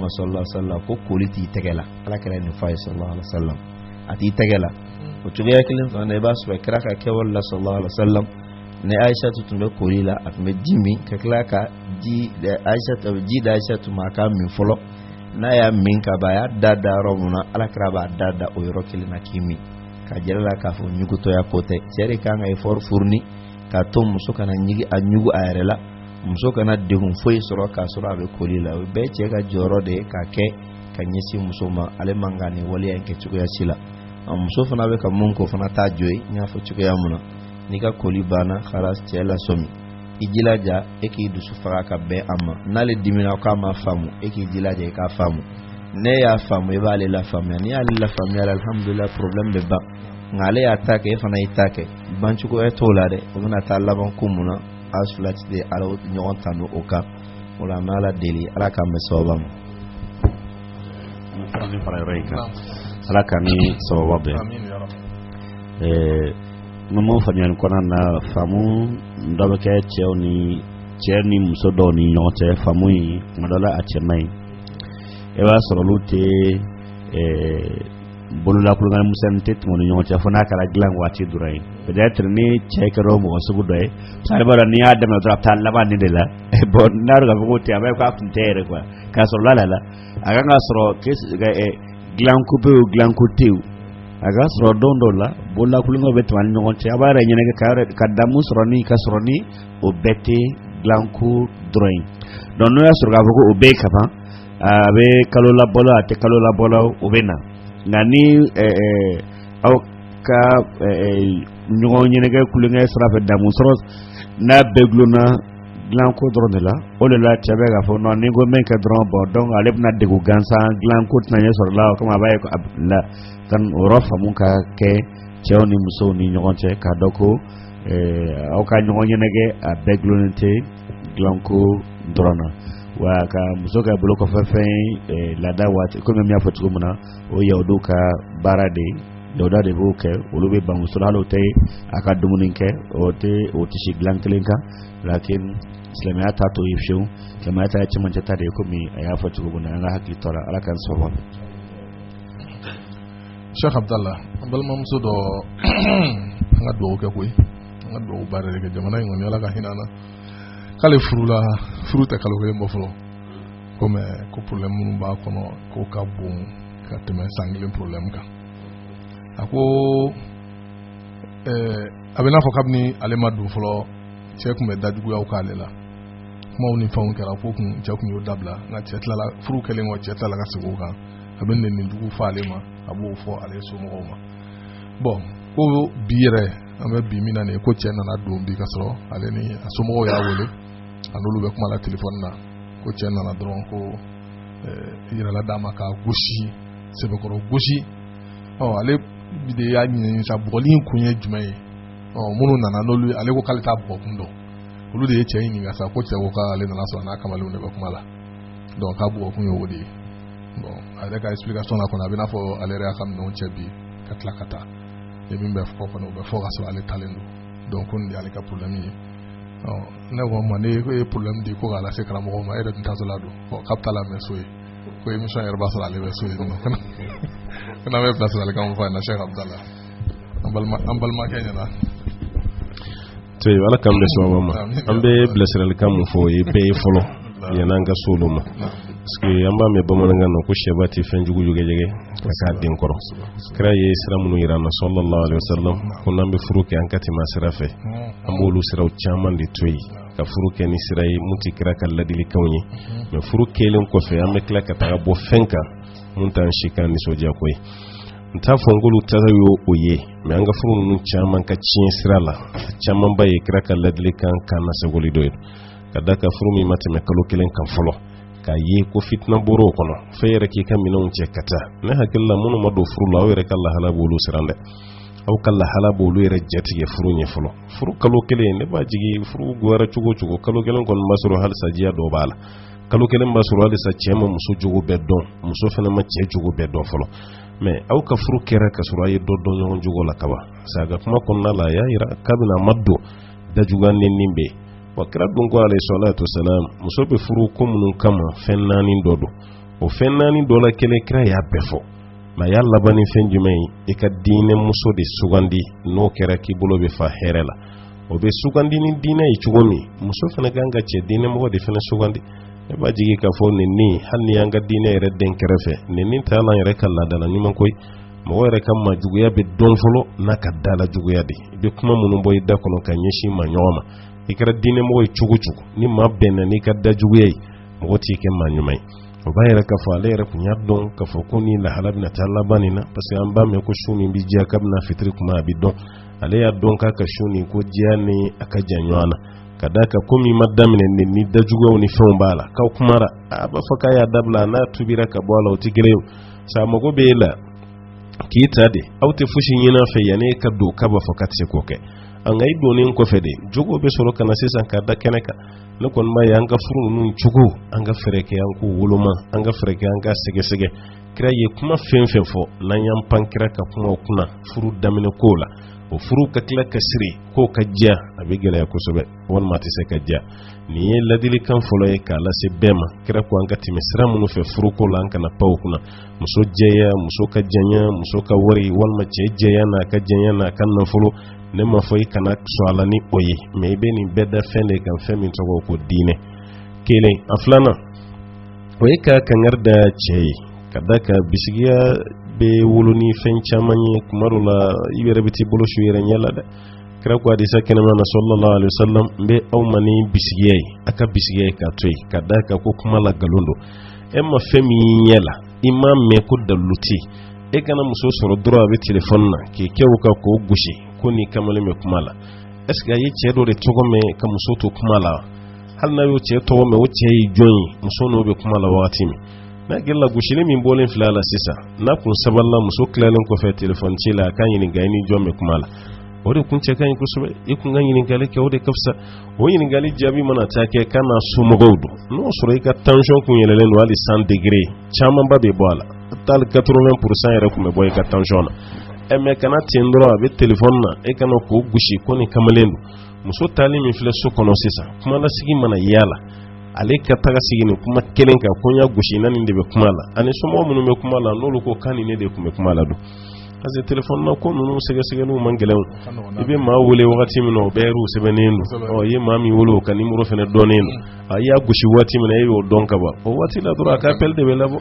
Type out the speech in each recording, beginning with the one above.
ma sallallahu alayhi wasallam ko koli t'i tɛgɛ la ala kira nin fɔ a ye sallallahu alayhi wasallam a t'i tɛgɛ la o cogoya kelen fana i b'a sɔrɔ kira ka kɛwale la sallallahu alayhi wasallam ni ayisatu tun bɛ koli la a tun bɛ ji min ka tila ka ji di ayisatu ma a k'a min fɔlɔ n'a y'a min ka ban a y'a da da yɔrɔ mun na ala kira b'a da da o yɔrɔ kelen na k'i min k'a jira a la k'a fɔ ɲugutɔya ko tɛ cɛ de kan ka effort fourni k'a to muso kana ɲigi a ɲugu a yɛrɛ la muso kana degun foyi sɔrɔ k'a sɔrɔ a bɛ koli la o bɛɛ cɛ ka jɔyɔrɔ de ye k'a kɛ ka ɲɛsin muso ma ale man ka nin waleya in kɛ cogoya si la a muso fana bɛ ka mun ko fana t'a jo ye n y'a fɔ cogoya mun na n'i ka koli banna khalas cɛ lasɔmi i jilaja e k'i dusu faga ka bɛn a ma n'ale dimina k'a ma faamu e k'i jilaja i k'a faamu ne y'a faamu i b'ale lafaamuya n'i y'ale lafaamuya alhamdulilayi problème bɛ ban nka ale y'a ta kɛ e fana y'i ta kɛ bancogoya t'o la dɛ o bɛna taa laban ko mun na a fila tɛna ɲɔgɔn tanu o kan o la an bɛ ala deli ala k'an bɛn sawaba ma ala k'an ni sawaba bɛn n'o m'o faamuyali kɔnɔna na faamu dɔ bɛ kɛ cɛw ni cɛ ni muso dɔw ni ɲɔgɔn cɛ faamu in kuma dɔ la a cɛ man ɲi i b'a sɔrɔ olu tɛ bololatulonkɛ misɛn tɛ tɛmɛn ni ɲɔgɔn cɛ fo n'a kɛra dilan waati dɔrɔn ye peut-être ni cɛ kɛra mɔgɔ sugu dɔ ye sariba n'a y'a daminɛ dɔrɔn a taa laban de la bon n'a ka fɔ tɛ a bɛ k'a kun tɛ yɛrɛ quoi k'a sɔrɔ la la a ka k'a sɔrɔ dilanko bɛ o dilanko tɛ o a ka sɔrɔ don dɔw la bololatulonkɛ bɛ tɛmɛ ni ɲɔgɔn cɛ a b'a yɛrɛ ɲɛnajɛ ka yɛrɛ ka damu sɔrɔ ni ka sɔrɔ ni o bɛɛ tɛ dilanko dɔrɔn ye donc n'o y'a sɔrɔ k'a fɔ o bɛɛ ye kaban a bɛ kalo labɔ la a tɛ kalo labɔ la o bɛ na nka ni aw ka ɲɔgɔn ɲɛnajɛ tulonkɛ sira fɛ damu sɔrɔ n'a bɛɛ dulonna dilanko dɔrɔn de la o de la cɛ bɛ k'a fɔ non ni ko min kɛ dɔrɔn bon donc ale bɛna degu gansan dilanko tɛna ɲɛ sɔrɔ la o kama a b'a ye a la ka o yɔrɔ faamu ka kɛ cɛw ni musow ni ɲɔgɔn cɛ k'a dɔn ko aw ka ɲɔgɔn ɲɛnajɛ a bɛɛ dulonnen tɛ dilanko dɔrɔn na wa ka muso kɛ bolokɔfɛfɛn ye laada waati komi n y'a fɔ cogo min na o yahudu ka baara de ye yahudu de b'o kɛ olu bɛ ban muso la hali o tɛ a ka dumuni kɛ o tɛ o tɛ si dilan kelen kan lakin silamɛya t'a to ye fiyewu silamɛya ta ye cɛmancɛ ta de ye komi a y'a fɔ cogo min na an ka hakili to a la ala k'an sababu ma. Sheikh Abdallah, an balimamuso dɔ an ka dugawu kɛ koyi an ka dugawu baara de kɛ jamana in kɔni ala ka hinɛ na k'ale furula furu tɛ kalo kelen bɔ fɔlɔ ko mɛ ko problème minnu b'a kɔnɔ ko ka bon ka tɛmɛ san kelen problème kan a ko ɛɛ a bɛ n'a fɔ kabini ale ma don fɔlɔ cɛ tun bɛ dajuguyaw k'ale la kumaw ni fɛnw kɛra ko kun cɛ tun y'o dabila nka cɛ tilala furu kɛlen kɔ cɛ tilala ka segin o kan a bɛ nɛnni jugu fɔ ale ma a b'o fɔ ale somɔgɔw ma bon ko bi yɛrɛ an bɛ bi min na nin ye ko cɛ nana don bi ka sɔrɔ ale ni a somɔgɔw y'a wele a n'olu bɛ kuma la telefɔni na ko cɛ nana dɔrɔn ko yɛrɛla d'a ma k'a gosi sɛbɛkɔrɔ gosi ɔ ale de y'a ɲinini sa bɔgɔli in kun ye jumɛn ye ɔ minnu nana n'olu ale ko k'ale t'a bɔgɔ kun dɔn olu de ye cɛ in ɲininka sa ko cɛ ko k'ale nana sɔrɔ n'a kamalenw de bɛ kuma la donc k'a bɔgɔ kun ye o de ye bon a yɛrɛ ka explication na kɔni a bɛ n'a fɔ ale yɛrɛ y'a ka minɛnw cɛ bi ka tila ka taa ye min bɛ fɔ kɔni o bɛ fɔ ka sɔrɔ ale taalen don donc ko nin de y'ale ka problème ye ne ko ma ne ko ye problème di ko k'a lase karamɔgɔ ma e yɛrɛ tun taatɔla don k'a bɛ taa lamɛn so yen ko émission yɛrɛ b'a sɔrɔ ale bɛ so yen n'o kɛra an bɛ bilasiralikan mun fɔ a ɲɛna Sɛki Abudala an balima an balimakɛ ɲɛna to ye ala k'an bɛn sɛbɛ ma an bɛ bilasiralikan mun fɔ o ye bɛɛ ye fɔlɔ yann'an ka s'olu ma parce que an b'a mɛn bamanankan na ko sɛba tɛ fɛn jugu jɛgɛjɛgɛ ka k'a den kɔrɔ kira ye sira minnu yira an na sallallahu alaihi wasallam ko n'an bɛ furu kɛ an ka tɛmɛ a sira fɛ an b'olu siraw caman de to yen ka furu kɛ ni sira ye mun tɛ kira ka ladilikanw ye mɛ furu kɛlen kɔfɛ an bɛ tila ka taga bɔ fɛn kan mun t'an si kan nisɔndiyako ye n t'a fɔ n k'olu ta sa y'o o ye mɛ an ka furu ninnu caman ka tiɲɛ sira la camanba ye kira ka ladilikan kan na sagoli dɔ ye ka da ka furu min ma tɛmɛ kalo kelen kan fɔlɔ k'a ye ko fitina bɔr'o kɔnɔ fo i yɛrɛ k'i ka minɛnw cɛ ka taa ne hakili la minnu ma don furu la aw yɛrɛ ka lahala b'olu siran dɛ aw ka lahala b'olu yɛrɛ jatigɛ furu ɲɛ fɔlɔ furu kalo kelen ne b'a jigi furu goyara cogo cogo kalo kelen kɔni b'a sɔrɔ halisa diya dɔ b'a la kalo kelen b'a sɔrɔ halisa cɛ ma muso jogo bɛɛ dɔn muso fana ma cɛ jogo bɛɛ dɔn fɔlɔ mɛ aw ka furu kɛra ka sɔrɔ a ye dɔ dɔn ɲɔgɔn jogo la kaban sabu a ka kuma kɔnɔna la a y'a jira kabini a ma don dajuguya nɛni bɛ yen wa kira dun ko alayhi salatu wasalam muso bɛ furu ko minnu kama fɛn naani dɔ don o fɛn naani dɔ la kelen kira y'a bɛɛ fɔ mɛ a y'a laban ni fɛn jumɛn ye i ka diinɛ muso de sugandi n'o kɛra k'i bolo bɛ fa hɛrɛ la o bɛ sugandi ni diinɛ ye cogo min muso fana ka kan ka cɛ diinɛmɔgɔ de fana sugandi ne b'a jigi k'a fɔ nin nin hali n'i y'an ka diinɛ yɛrɛ dɛn kɛrɛfɛ nin nin t'a la yɛrɛ ka laadala ɲuman koyi mɔgɔ yɛrɛ ka maajuguya bɛ dɔn fɔlɔ n'a ka dala juguya de i bɛ kuma minnu bɔ i da kɔnɔ ka ɲɛsin ma ɲɔgɔn ma i kɛra diinɛmɔgɔ ye cogo cogo ni maa bɛnna n'i ka dajuguya ye mɔgɔ t'i kɛ maa ɲuman ye o b'a yira k'a fɔ ale yɛrɛ tun y'a dɔn k'a fɔ ko nin lahala bɛna taa laban nin na parce que an b'a mɛn ko su min bɛ diya kabini fitiri kuma a bɛ dɔn ale y'a dɔn k'a ka su nin ko diya ni a ka jan ɲɔgɔn na ka da ka ko min ma daminɛ nin ni dajuguyaw ni fɛnw b'a la k'aw kumara a b'a fɔ k'a y'a dabila n'a tubira ka bɔ a la o tɛ gɛrɛ o sa mago bɛ e la k'i ta de aw tɛ fosi ɲini a fɛ yanni e ka don k'a b'a fɔ k'a tɛ se k'o kɛ nka i donnen kɔfɛ de jogo bɛ sɔrɔ ka na sisan k'a da kɛnɛ kan ne kɔni b'a ye an ka furu ninnu cogo an ka fɛɛrɛ kɛ an k'u woloma an ka fɛɛrɛ kɛ an ka sɛgɛsɛgɛ kira ye kuma fɛn o fɛn fɔ n'an y'an pan kira ka kumaw kunna furu daminɛ kow la o furu ka tila ka siri k'o ka diya a bɛ gɛlɛya kosɛbɛ walima a tɛ se ka diya nin ye ladilikan fɔlɔ ye k'a lase bɛɛ ma kira ko an ka tɛmɛ sira minnu fɛ furuko la an kana pan u kunna muso jɛya muso ka janya muso ka wari walima cɛ jɛya n'a ka janya n'a ka nafolo ne m'a fɔ i kana sɔn a la ni o ye mɛ i bɛ nin bɛɛ da fɛn de kan fɛn min tɔgɔ ko diinɛ kelen a filanan o ye ka kangari da cɛ ye ka da ka bisigiya bɛ wolo ni fɛn caman ye kuma dɔ la i yɛrɛ bɛ t'i bolo su i yɛrɛ ɲɛ la dɛ kira ko hadisa kɛnɛman na sallallahu alaihi wasallam n bɛ aw ma ni bisigiya ye a ka bisigiya ye k'a to yen ka da ka ko kuma la nkalon don e ma fɛn min y'i ɲɛ la i m'a mɛn ko dalilu tɛ e kana muso sɔrɔ dɔrɔn a bɛ telefɔni na k'i kɛ o kan k'o gosi ko ni kamalen bɛ kuma la ɛseke a ye cɛ dɔ de tɔgɔ mɛn ka muso to kuma la hali n'a y'o cɛ tɔgɔ mɛn o cɛ ye jɔn ye muso n'o bɛ kuma la wagati min n'a gɛrɛ la gosili min bɔlen filɛ a la sisan n'a kun sabalila muso tilalen kɔfɛ telefɔni ci la a k'a ɲininka i ni jɔn bɛ kuma la o de kun cɛ ka ɲi kosɛbɛ i kun ka ɲininkali kɛ o de ka fisa o ɲininkali jaabi mana taa kɛ k'a n'a somɔgɔw don n'o sɔrɔ i ka tansɔn kun yɛlɛlen don hali 100 degere camanba bɛ bɔ a la hali 80 pourcent yɛrɛ kun bɛ bɔ i ka tansɔn na ɛ mɛ ka na ten dɔrɔn a bɛ telefɔni na e ka na k'o gosi ko nin kamalen don muso taali min filɛ so kɔnɔ sisan kumalasigi mana y'a la ale ka taga sigi ni kuma kelen kan ko n y'a gosi na nin de bɛ kuma la a ni somɔgɔ minnu bɛ kuma la n'olu ko k'a ni ne de kun bɛ kuma la don parce que telefɔni na ko ninnu sɛgɛsɛgɛliw man gɛlɛn i bɛ maa wele wagati min na o bɛɛ yɛrɛw sɛbɛnnen don ɔ i ye maa min wele o ka nimoro fana dɔnnen don mm. i y'a gosi waati min na e y'o dɔn ka ban o waati la dɔrɔn a ka appel de bɛ labɔ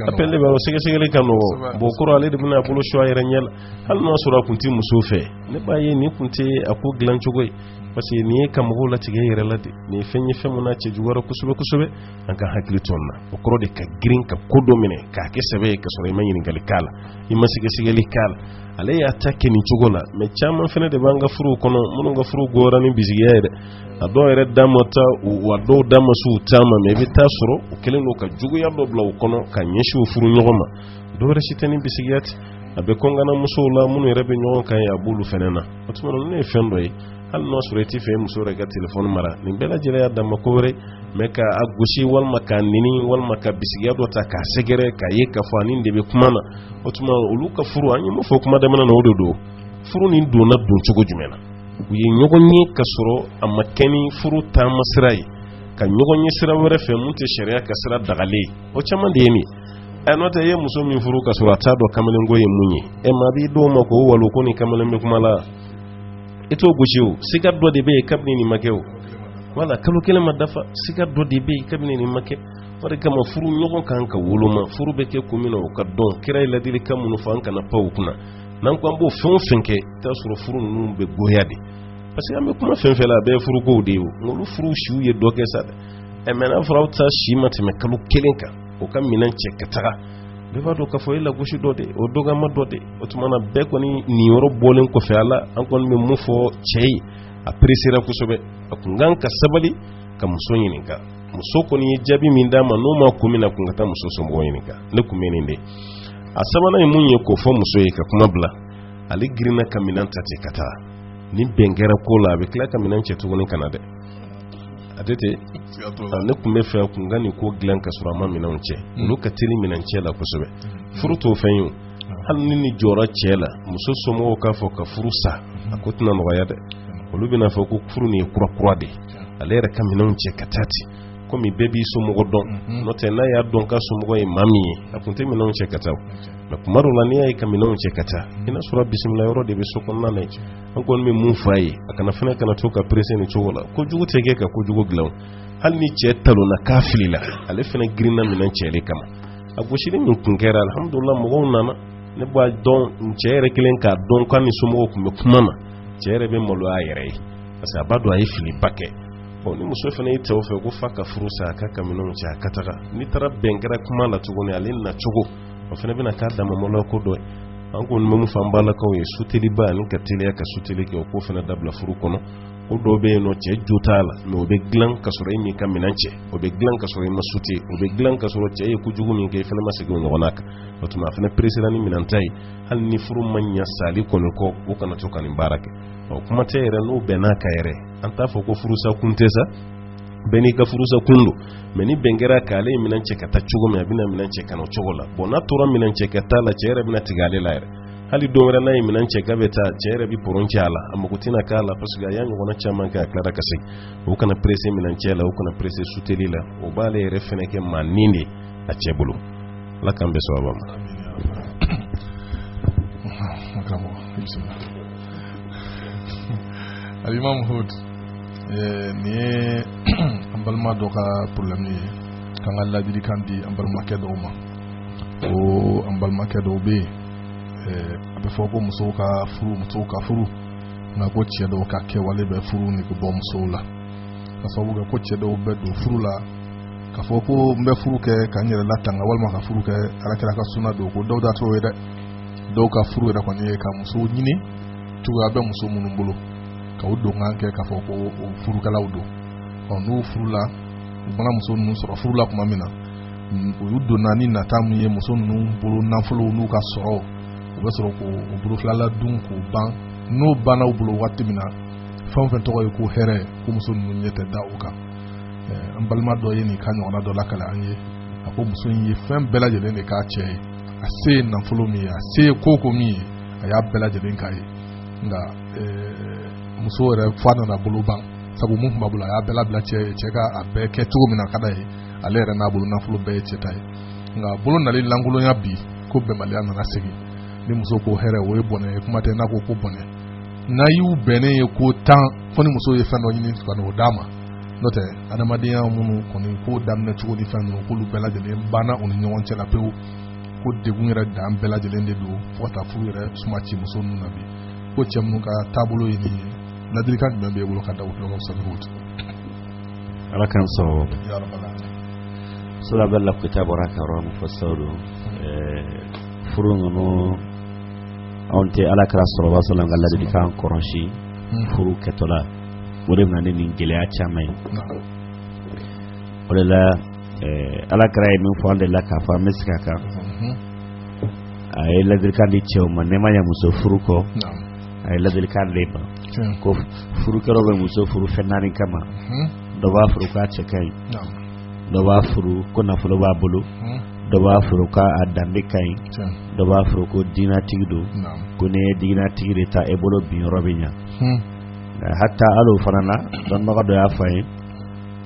appel de bɛ labɔ sɛgɛsɛgɛli ka nɔgɔ bon o kɔrɔ ale de bɛna a bolo su a yɛrɛ ɲɛ la hali n'a sɔrɔ a kun tɛ muso fɛ ne b'a ye nin kun tɛ a ko dilan cogo ye parce que nin ye ka mɔgɔw latigɛ i yɛrɛ la de nin ye fɛn ye fɛn min na cɛ juguyara kosɛbɛ kosɛbɛ an ka hakili to nin na o kɔrɔ de ka girin ka ko dɔ minɛ k'a kɛ sɛbɛ ye ka sɔrɔ i ma ɲininkali k'a la i ma sɛgɛsɛgɛli k'a la ale y'a ta kɛ nin cogo la mɛ caman fana de b'an ka furuw kɔnɔ minnu ka furu gora ni bisigiya ye dɛ a dɔw yɛrɛ da ma ta wa dɔw da ma s'u ta ma mɛ i bɛ taa sɔrɔ u kɛlen don ka juguya dɔ bila u kɔnɔ ka ɲɛsin u furuɲɔgɔn ma dɔwɛrɛ si tɛ ni bisigiya tɛ a bɛ kɔngana musow la minnu yɛrɛ bɛ ɲɔgɔn kan ye a b'olu fɛnɛ na o tuma na ne ye fɛn dɔ ye hali n'a sɔrɔ i tɛ fɛ muso yɛrɛ ka telefɔni mara nin bɛɛ lajɛlen y'a dama ko wɛrɛ mais ka a gosi walima k'a nɛni walima ka bisigiya dɔ ta k'a sɛgɛrɛ k'a ye k'a fɔ a ni dɔ bɛ kuma na o tuma olu ka furu an ye mun fɔ kuma daminɛ na o de don furu nin donna don cogo jumɛn na u ye ɲɔgɔn ye ka sɔrɔ a ma kɛ ni furu taama sira ye ka ɲɔgɔn ye sira wɛrɛ fɛ min tɛ sariya ka sira dagalen ye o caman de ye nin ye ɛ n'o tɛ i ye muso min furu ka sɔrɔ a t'a dɔn kamalenko ye mun ye ɛ maa b'i dɔw ma k'o walo ko ni kamalen bɛ kuma la i t'o gosi o siga dɔ de bɛ yen kabini nin ma kɛ o wala kalo kelen ma dafa siga dɔ de bɛ yen kabini nin ma kɛ o de kama furu ɲɔgɔn kan ka woloma furu bɛ kɛ kun min na o ka dɔn kira ye ladilikan minnu fɔ an kana pan o kunna n'an ko an b'o fɛn o fɛn kɛ i bɛ t'a sɔrɔ furu ninnu bɛ goya de parce que an bɛ kuma fɛn fɛn la a bɛɛ ye furukow de ye o nka olu furu siw ye dɔ kɛ sa dɛ ɛ mais n'a fɔra aw ta si ma tɛmɛ kalo kelen kan o ka minɛn cɛ ka taga bɛɛ b'a dɔn k'a fɔ e lagosi dɔ de o dɔgɔya dɔ de o tuma na bɛɛ kɔni nin yɔrɔ bɔlen kɔfɛ a la an kɔni bɛ mun fɔ cɛ ye a peresera kosɛbɛ a kun kan ka sabali ka muso ɲininka muso kɔni ye jaabi min d'a ma n'o ma kun min na kun ka taa muso somɔgɔw ɲininka ne kun bɛ nin de a sabanan ye mun ye k'o fɔ muso ye ka kuma bila ale girinna ka minɛn ta ten ka taa ni bɛn kɛra ko la a bɛ tila ka minɛn cɛ tuguni ka na dɛ a tɛ ten ne kun b'a fɛ a kun ka nin ko dilan ka sɔrɔ a ma minɛnw cɛ olu ka teli minɛn cɛ la kosɛbɛ furu t'o fɛn ye hali ni nin jɔra cɛ la muso somɔgɔw k'a fɔ ka furu sa a ko tɛna nɔgɔya dɛ olu bɛna fɔ ko furu nin ye kura kura de ale yɛrɛ ka minɛnw cɛ ka taa ten komi bɛɛ b'i somɔgɔ dɔn n'o tɛ n'a y'a dɔn ka somɔgɔ ye maa min ye a kun tɛ minɛnw cɛ ka taa mais kuma dɔw la n'i y'a ye ka minɛnw cɛ ka taa i n'a sɔrɔ bisimila yɔrɔ de bɛ so kɔnɔna na an kɔni bɛ mun fɔ a ye a kana fana kana to ka perese nin cogo la kojugu tɛ kɛ ka kojugu dilan hali ni cɛ talonna k'a filila ale fana girinna minɛn cɛ de kama a gosili min kun kɛra alihamudulila mɔgɔw nana ne b'a dɔn cɛ yɛrɛ kɛlen k'a dɔn k'a ni somɔgɔw kun bɛ kuma na cɛ yɛrɛ bɛ maloya a yɛrɛ ye parce que a b'a dɔn a ye filiba kɛ ɔ ni muso fana y'i tɛw fɛ ko fo ka furu sa a k'a ka minɛnw cɛ a ka taga n'i taara bɛn kɛra kuma na tuguni ale na cogo o fana bɛna k'a dama maloya ko dɔ ye an kɔni bɛ mun fɔ an balakaw ye suteliba ani ka teliya ka suteli kɛ o ko fana dabila furu kɔnɔ ko dɔ bɛ yen nɔ cɛ jo t'a la mais o bɛ dilan ka sɔrɔ e m'i ka minɛn cɛ o bɛ dilan ka sɔrɔ i ma sute o bɛ dilan ka sɔrɔ cɛ ye kojugu min kɛ i fana ma segin o ɲɔgɔnna kan o tuma a fana peresera ni minɛn ta ye hali ni furu ma ɲa sali kɔni kɔ o kana to ka nin baara kɛ ɔ kuma tɛ yɛrɛ n'o bɛn n'a ka yɛrɛ an t'a fɔ ko furusa kun tɛ sa bɛn n'i ka furusa kun don mais ni bɛn kɛra ka ale ye minɛn cɛ ka taa cogo min a bɛna minɛn cɛ ka na o cogo la bon n'a tora minɛn cɛ ka taa la cɛ yɛrɛ bɛna tigɛ ale la yɛrɛ hali don wɛrɛ n'a ye minɛn cɛ ka bɛ taa cɛ yɛrɛ bɛ pɔrɔn cɛ a la a mago tɛna k'a la parce que a y'a ɲɔgɔnna caman kɛ a tilara ka segin o kana pressé minɛn cɛ la o kana pressé suteli la o b'ale yɛrɛ fɛnɛ kɛ maa nin de a cɛ bolo ala k'an bɛn sababu ma الإمام هود nin ye an balima dɔ ka problème ye k'an ka ladilikan di an balimakɛ dɔw ma ko an balimakɛ dɔw bɛ yen a bɛ fɔ ko musow ka furu musow ka furu nka ko cɛ dɔw ka kɛwale bɛ furu nege bɔ musow la ka sababu kɛ ko cɛ dɔw bɛ don furu la k'a fɔ ko n bɛ furu kɛ ka n yɛrɛ latanga walima ka furu kɛ ala kira ka suna don ko dɔw ta t'o ye dɛ dɔw ka furu yɛrɛ kɔni ye ka musow ɲini cogoya bɛ muso minnu bolo ka u donkan kɛ k'a fɔ ko o furukɛlaw don ɔ n'u furula u mana muso ninnu sɔrɔ furu la tuma min na u y'u donna ni nata min ye muso ninnu bolo nafolow n'u ka sɔrɔ u bɛ sɔrɔ k'o bolo fila la dun k'o ban n'o banna u bolo waati min na fɛn o fɛn tɔgɔ ye ko hɛrɛ ko muso ninnu ɲɛ tɛ da u kan an balima dɔ ye nin ka ɲɔgɔnna dɔ lakale an ye a ko muso in ye fɛn bɛɛ lajɛlen de k'a cɛ ye a se ye nafolo min ye a se ye ko ko min ye a y'a bɛɛ lajɛlen k'a ye nka muso yɛrɛ fo a nana bolo ban sabu min tun b'a bolo a y'a bɛɛ labila cɛ ye cɛ ka a bɛɛ kɛ cogo min na ka d'a ye ale yɛrɛ n'a bolo nafolo bɛɛ ye cɛ ta ye nka bolo nali lankolonya bi ko bɛnbaliya nana segin ni muso ko hɛrɛ o ye bɔnɛ ye kuma tɛ n'a ko ko bɔnɛ n'a y'u bɛnnen ye ko tan fo ni muso ye fɛn dɔ ɲini ka n'o d'a ma n'o tɛ adamadenya minnu kɔni ko daminɛ cogo ni fɛn ninnu k'olu bɛɛ lajɛlen banna u ni ɲɔgɔn cɛ la pewu ko degun yɛrɛ dan bɛɛ lajɛlen de don fo ka taa furu yɛrɛ suma ci muso ninnu na bi ko cɛ minnu ka taabolo ye nin ye ladilikan jumɛn b'e bolo ka da u tulo kan sanu wotoro ala k'an sɔrɔ sira bɛ lakuta bɔra ka yɔrɔ min fɔ sisan don furu ninnu anw tɛ ala kira sallallahu alayhi wa sallam ka ladilikan kɔrɔsi hmm. furu kɛtɔla o de bɛna ni nin gɛlɛya caman ye o de la ala kira ye min fɔ an de la k'a fɔ an bɛ sigi a kan hmm. a ye ladilikan di cɛw ma ne ma ɲɛ muso furu kɔ a ye ladilikan d'an ma ko furukɛlaw bɛ muso furu fɛn naani kama hmm. dɔ b'a furu k'a cɛ ka ɲi dɔ b'a furu ko nafolo b'a bolo hmm. dɔ b'a furu k'a danbe ka ɲi dɔ b'a furu ko diinatigi don ko n'e ye diinatigi de ta e bolo bin yɔrɔ bɛ ɲa hmm. hata hali o fana na dɔnnibaga dɔ y'a fɔ an ye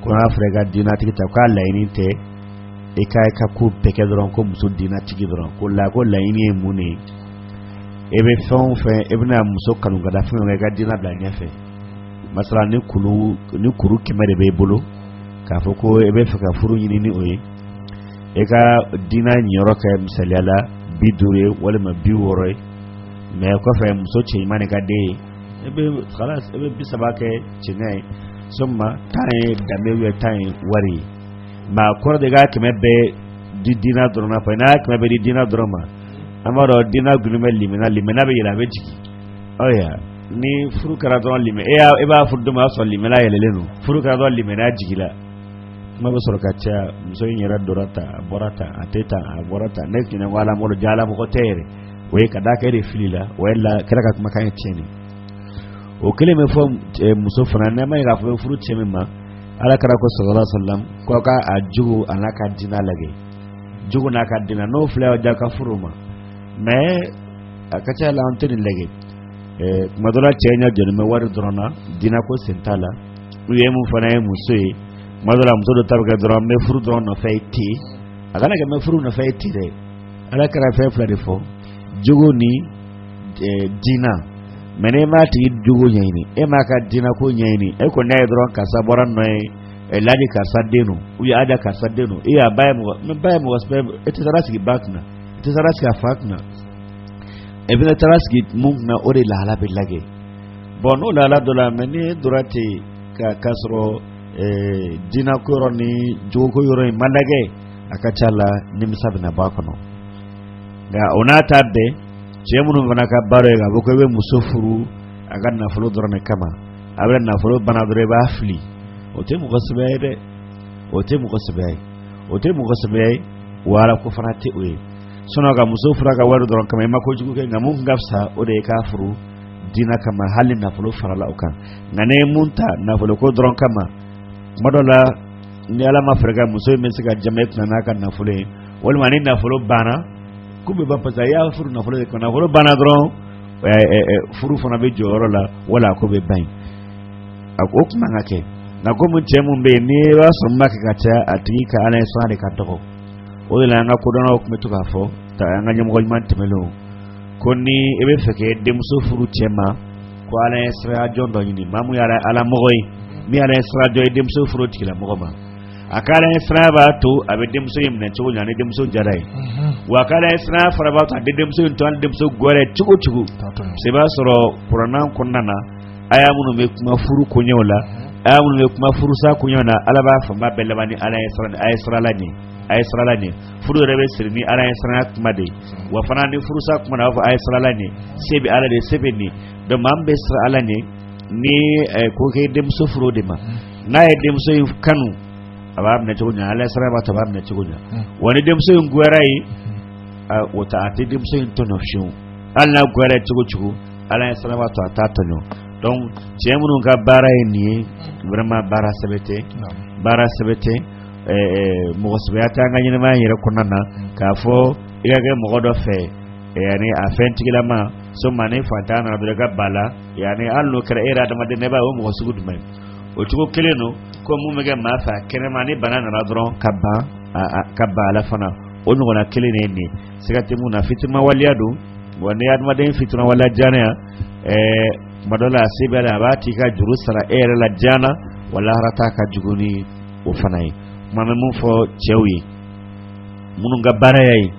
ko n'a fɔra i ka diinatigi ta k'a laɲini tɛ i ka i ka ko bɛɛ kɛ dɔrɔn ko muso dinatigi dɔrɔn ko la ko laɲini ye mun de ye e bɛ fɛn o fɛn e bɛna muso kanu ka da fɛn kan i ka dina bila ɲɛfɛ masala ni kulu ni kuru kɛmɛ de b'e bolo k'a fɔ ko e bɛ fɛ ka furu ɲini ni o ye e ka dina niyɔrɔ kɛ misaliya la bi duuru ye walima bi wɔɔrɔ ye mɛ kɔfɛ muso cɛɲuman de ka di e ye e bɛ kala e bɛ bi saba kɛ cɛɲa ye sɔgɔma tan ye danbe bɛ tan ye wari ye nka kɔrɔ tɛ k'a kɛmɛ bɛɛ di diinɛ dɔrɔn ma fɔ n'a kɛmɛ bɛɛ di diinɛ dɔrɔn ma an b'a dɔn diinɛ dulonnen bɛ limaniya la limaniya bɛ yɛlɛ a bɛ jigin ɔya ni furu kɛra dɔrɔn limaniya e y'a e b'a furu don o y'a sɔrɔ limaniya yɛlɛlen don furu kɛra dɔrɔn limaniya jigila kuma bɛ sɔrɔ ka caya muso in yɛrɛ donna tan a bɔra tan a tɛ tan a bɔra tan ne tun ko ala mɔgɔ don jaa ala mɔgɔ tɛ yɛrɛ o ye ka d'a kan e de filila o ye ala kira ka kumakan ye tiɲɛ de o kelen bɛ fɔ muso fana ne m'a ye k'a fɔ furu cɛ min ma ala kira ko sallallahu alaihi wasallam ko ka a jogo a n'a ka diinɛ lajɛ jogo n'a ka diinɛ n'o fila ja ka furu ma mɛ a ka ca la an tɛ nin lajɛ tuma dɔ cɛ ɲɛ jɔlen bɛ wari dɔrɔn na dina ko sen t'a la u ye mun fana ye muso ye tuma dɔ muso dɔ ta bɛ kɛ dɔrɔn n bɛ furu dɔrɔn nɔfɛ ye ten a kana kɛ n bɛ furu nɔfɛ ye ten dɛ ala kira fɛn fila de fɔ jogo ni diinɛ mɛ n'e m'a tigi jogo ɲɛɲini e m'a ka diinɛ ko ɲɛɲini e ko n'a ye dɔrɔn karisa bɔra nɔ ye ɛlaji karisa den don u y'a da karisa den don e y'a ba ye mɔgɔ mɛ a ba ye mɔgɔ sɛbɛ ye e tɛ taara sigi a ba kunna e tɛ taara sigi a fa kunna e bɛna taara sigi min kunna o de lahala bɛ lajɛ bon n'o lahala dɔnna mɛ ni e dora ten ka k'a sɔrɔ diinɛ ko yɔrɔ ni jogoko yɔrɔ in ma lajɛ a ka ca la nimisa bɛna bɔ a kɔnɔ nka o n'a ta bɛɛ cɛ minnu fana ka baara ye k'a fɔ ko i bɛ muso furu a ka nafolo dɔrɔn de kama après nafolo banna dɔrɔn i b'a fili o tɛ mɔgɔ sɛbɛya ye dɛ o tɛ mɔgɔ sɛbɛya ye o tɛ mɔgɔ sɛbɛya ye wa ala ko fana tɛ o ye sinɔn ka muso furu a ka wari dɔrɔn kama i ma kojugu kɛ nka mun ka fisa o de ye k'a furu diinɛ kama hali nafolo farala o kan nka n'e ye min ta nafolo ko dɔrɔn kama tuma dɔ la ni ala ma fɛɛrɛ kɛ muso in bɛ se ka jama i kunna n'a ka nafolo ye walima ni nafolo banna ko bɛɛ ban pasɛ i y'a furu nafolo de kosɔn nafolo banna dɔrɔn furu fana bɛ jɔ yɔrɔ la wala ko bɛɛ ban a ko o man kan ka kɛ nka komi cɛ min bɛ yen n'i y'a sɔrɔ min b'a kɛ ka caya a tigi ka ala ɲɛsiran de ka dɔgɔ o de la an ka kodɔnnaw tun bɛ to k'a fɔ ta an ka ɲɛmɔgɔ ɲuman tɛmɛnlenw ko ni i bɛ fɛ k'e denmuso furu cɛ ma ko ala ɲɛsiran jɔn dɔ ɲini maa min ye ala mɔgɔ ye min ala ɲɛsiran jɔn ye denmuso furu tigilamɔgɔ ma a ka ala ɲɛsiranya b'a to a bɛ denmuso in minɛ cogo ɲɛ ni denmuso diyara a ye wa a ka ala ɲɛsiranya fana b'a to a tɛ denmuso in tɔɲɔ denmuso goyara a ye cogo cogo sabu i b'a sɔrɔ kuranɛ kɔnɔna na aya minnu bɛ kuma furu koɲɛw la aya minnu bɛ kuma furusa koɲɛw na ala b'a fanba bɛɛ laban ni ala ye a ye siran ala ɲɛ a ye siran ala ɲɛ furu yɛrɛ bɛ siri ni ala ɲɛsiranya kuma de ye wa fana ni furusa kuma na a b'a fɔ a ye siran ala ɲɛ se bɛ ala de se bɛ nin donc maa min bɛ siran ala ɲɛ ni ko k'i denmuso furu o de ma n'a ye denmuso in kanu a b'a minɛ cogo ɲɛ ala ɲɛsiran b'a to a b'a minɛ cogo ɲɛ wa ni denmuso in goyara a ye o ta a tɛ denmuso in tɔɲɔ fiyewu hali n'a goyara a ye cogo cogo ala ɲɛsiran b'a to a t'a tɔɲɔ donc cɛ minnu ka baara ye nin ye vraiment baara sɛbɛ tɛ baara sɛbɛ tɛ mɔgɔ sɛbɛya tɛ an ka ɲɛnamaya yɛrɛ kɔnɔna na k'a fɔ i ka kɛ mɔgɔ dɔ fɛ yani a fɛntigilama summa ni fantanya nana dɔrɔn i ka ban a la yani hali n'o kɛra e yɛrɛ adamaden ne b'a ye o mɔgɔ sugu jumɛn o cogo kelen don ko mun bɛ kɛ maa fɛ kɛnɛma ni bana nana dɔrɔn ka ban ka ban a la fana o ɲɔgɔnna kelen de ye nin siga tɛ mun na fitiriwaleya don wa ni adamaden fitiriwaleya diyɛn yan ɛɛ kuma dɔ la a se bɛ la a b'a t'i ka juru sara e yɛrɛ la diyɛn na wa lahara ta ka jugu ni o fana ye kuma bɛ mun fɔ cɛw ye minnu ka baara y'a ye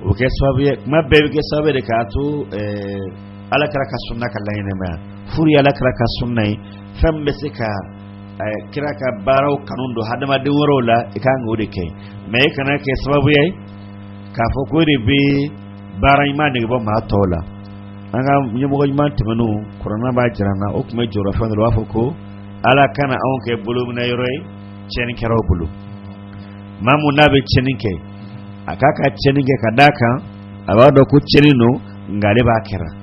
o bɛ kɛ sababu ye ko maa bɛɛ bɛ kɛ sababu ye de k'a to ɛɛ ala kira ka sunna ka laɲɛnamaya furu ye ala kira ka sunna ye fɛn mun bɛ se ka kira ka baaraw kanu don hadamaden wɛrɛw la i kan k'o de kɛ mɛ i kana kɛ sababu ye k'a fɔ ko e de bɛ baara ɲuman nege bɔ maa tɔw la an ka ɲɛmɔgɔ ɲuman tɛmɛnenw kuranɛ b'a jira an na o tun bɛ jɔrɔ fɛn dɔ la u b'a fɔ ko ala kana anw kɛ bolominɛ yɔrɔ ye tiɲɛnikɛlaw bolo maa mun n'a bɛ tiɲɛni kɛ a k'a ka tiɲɛni kɛ ka d'a kan a b'a dɔn ko tiɲɛni don nka ale b'a kɛra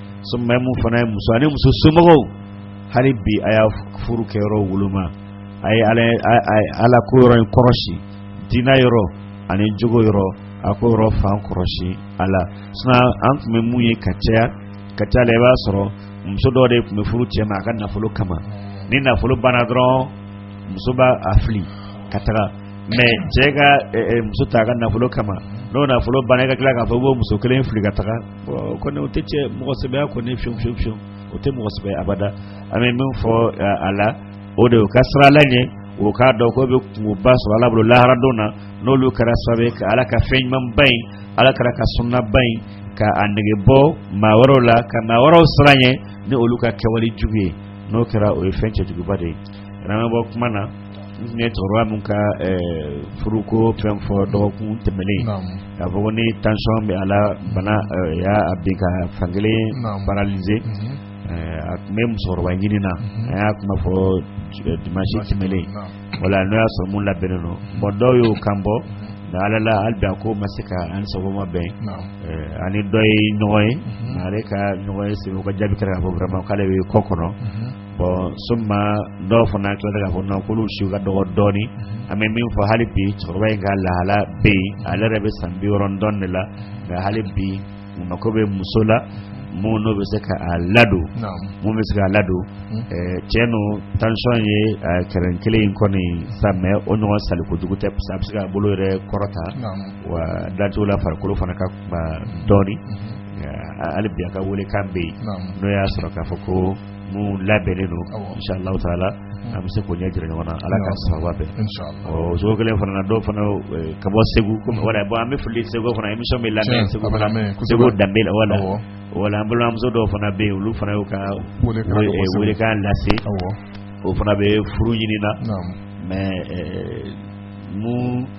summa mun fana ye muso ani muso somɔgɔw hali bi a y'a furu kɛ yɔrɔ woloma a ye ala ala ko yɔrɔ in kɔrɔsi diinɛ yɔrɔ ani jogo yɔrɔ a k'o yɔrɔ fan kɔrɔsi a la sisan an tun bɛ mun ye ka caya ka caya la i b'a sɔrɔ muso dɔ de tun bɛ furu cɛ ma a ka nafolo kama ni nafolo banna dɔrɔn muso b'a a fili ka taga mɛ cɛ ka muso ta a ka nafolo kama n'o nafolo banna i ka tila k'a fɔ i b'o muso kelen fili ka taga o kɔni o tɛ cɛ mɔgɔsɛbɛya kɔni fiyewufiyewu o tɛ mɔgɔsɛbɛ abada an bɛ min fɔ a la o de o ka siran ala ɲɛ o k'a dɔn k'o bɛ kunba sɔrɔ ala bolo laharadon na n'olu kɛra sababu ka ala ka fɛn ɲumanba in ala kira ka sunnaba in ka a nege bɔ maa wɛrɛw la ka maa wɛrɛw siran a ɲɛ ni olu ka kɛwale jugu ye n'o kɛra o ye fɛn cɛjuguba de ye bɔ kuma na ne cɛkɔrɔba min ka furuko fɛn fɔ dɔgɔkun tɛmɛnen k'a fɔ ni tension bɛ a la bana y'a bin k'a fan kelen paralysé a tun bɛ musokɔrɔba ɲinin na an y'a kuma fɔ dimansi tɛmɛnen wala n'o y'a sɔrɔ mun labɛnnen don bon dɔw y'u kan bɔ nka ala la hali bi a ko ma se ka an sago ma bɛn ani dɔ ye ɲɔgɔn ye ale ka ɲɔgɔn ye segu ka jaabi kɛra k'a fɔ vraiment k'ale bɛ kɔ kɔnɔ bon summa dɔw fana tilala k'a fɔ k'olu si ka dɔgɔ dɔɔnin an bɛ min fɔ hali bi cɛkɔrɔba in ka lahala bɛ yen ale yɛrɛ bɛ san biwɔɔrɔ ni dɔ de la nka hali bi a mako bɛ muso la mun n'o bɛ se ka a ladon mun bɛ se ka a ladon hmm. eh, tiɲɛ don tension ye eh, kɛrɛ kelen in kɔni sa mais o ɲɔgɔn sali kojugu tɛ parce que a bɛ se k'a bolo yɛrɛ kɔrɔta wa dancogo la farikolo fana ka kuma dɔɔnin hmm. eh, hali bi a ka welekan bɛ yen n'o y'a sɔrɔ k'a fɔ ko mun labɛnnen don inshallah taala an bɛ se k'o ɲɛ jira ɲɔgɔn na ala ka sababu bɛn o cogo kelen fana na dɔw fana eh, ka bɔ segu komi wala bon an bɛ foli segu fana émission bɛ lamɛn segu fana segu danbe la wala wala an balimamuso dɔw fana bɛ yen olu fana y'u ka welekan lase o fana bɛ furu ɲini na mais eh, mun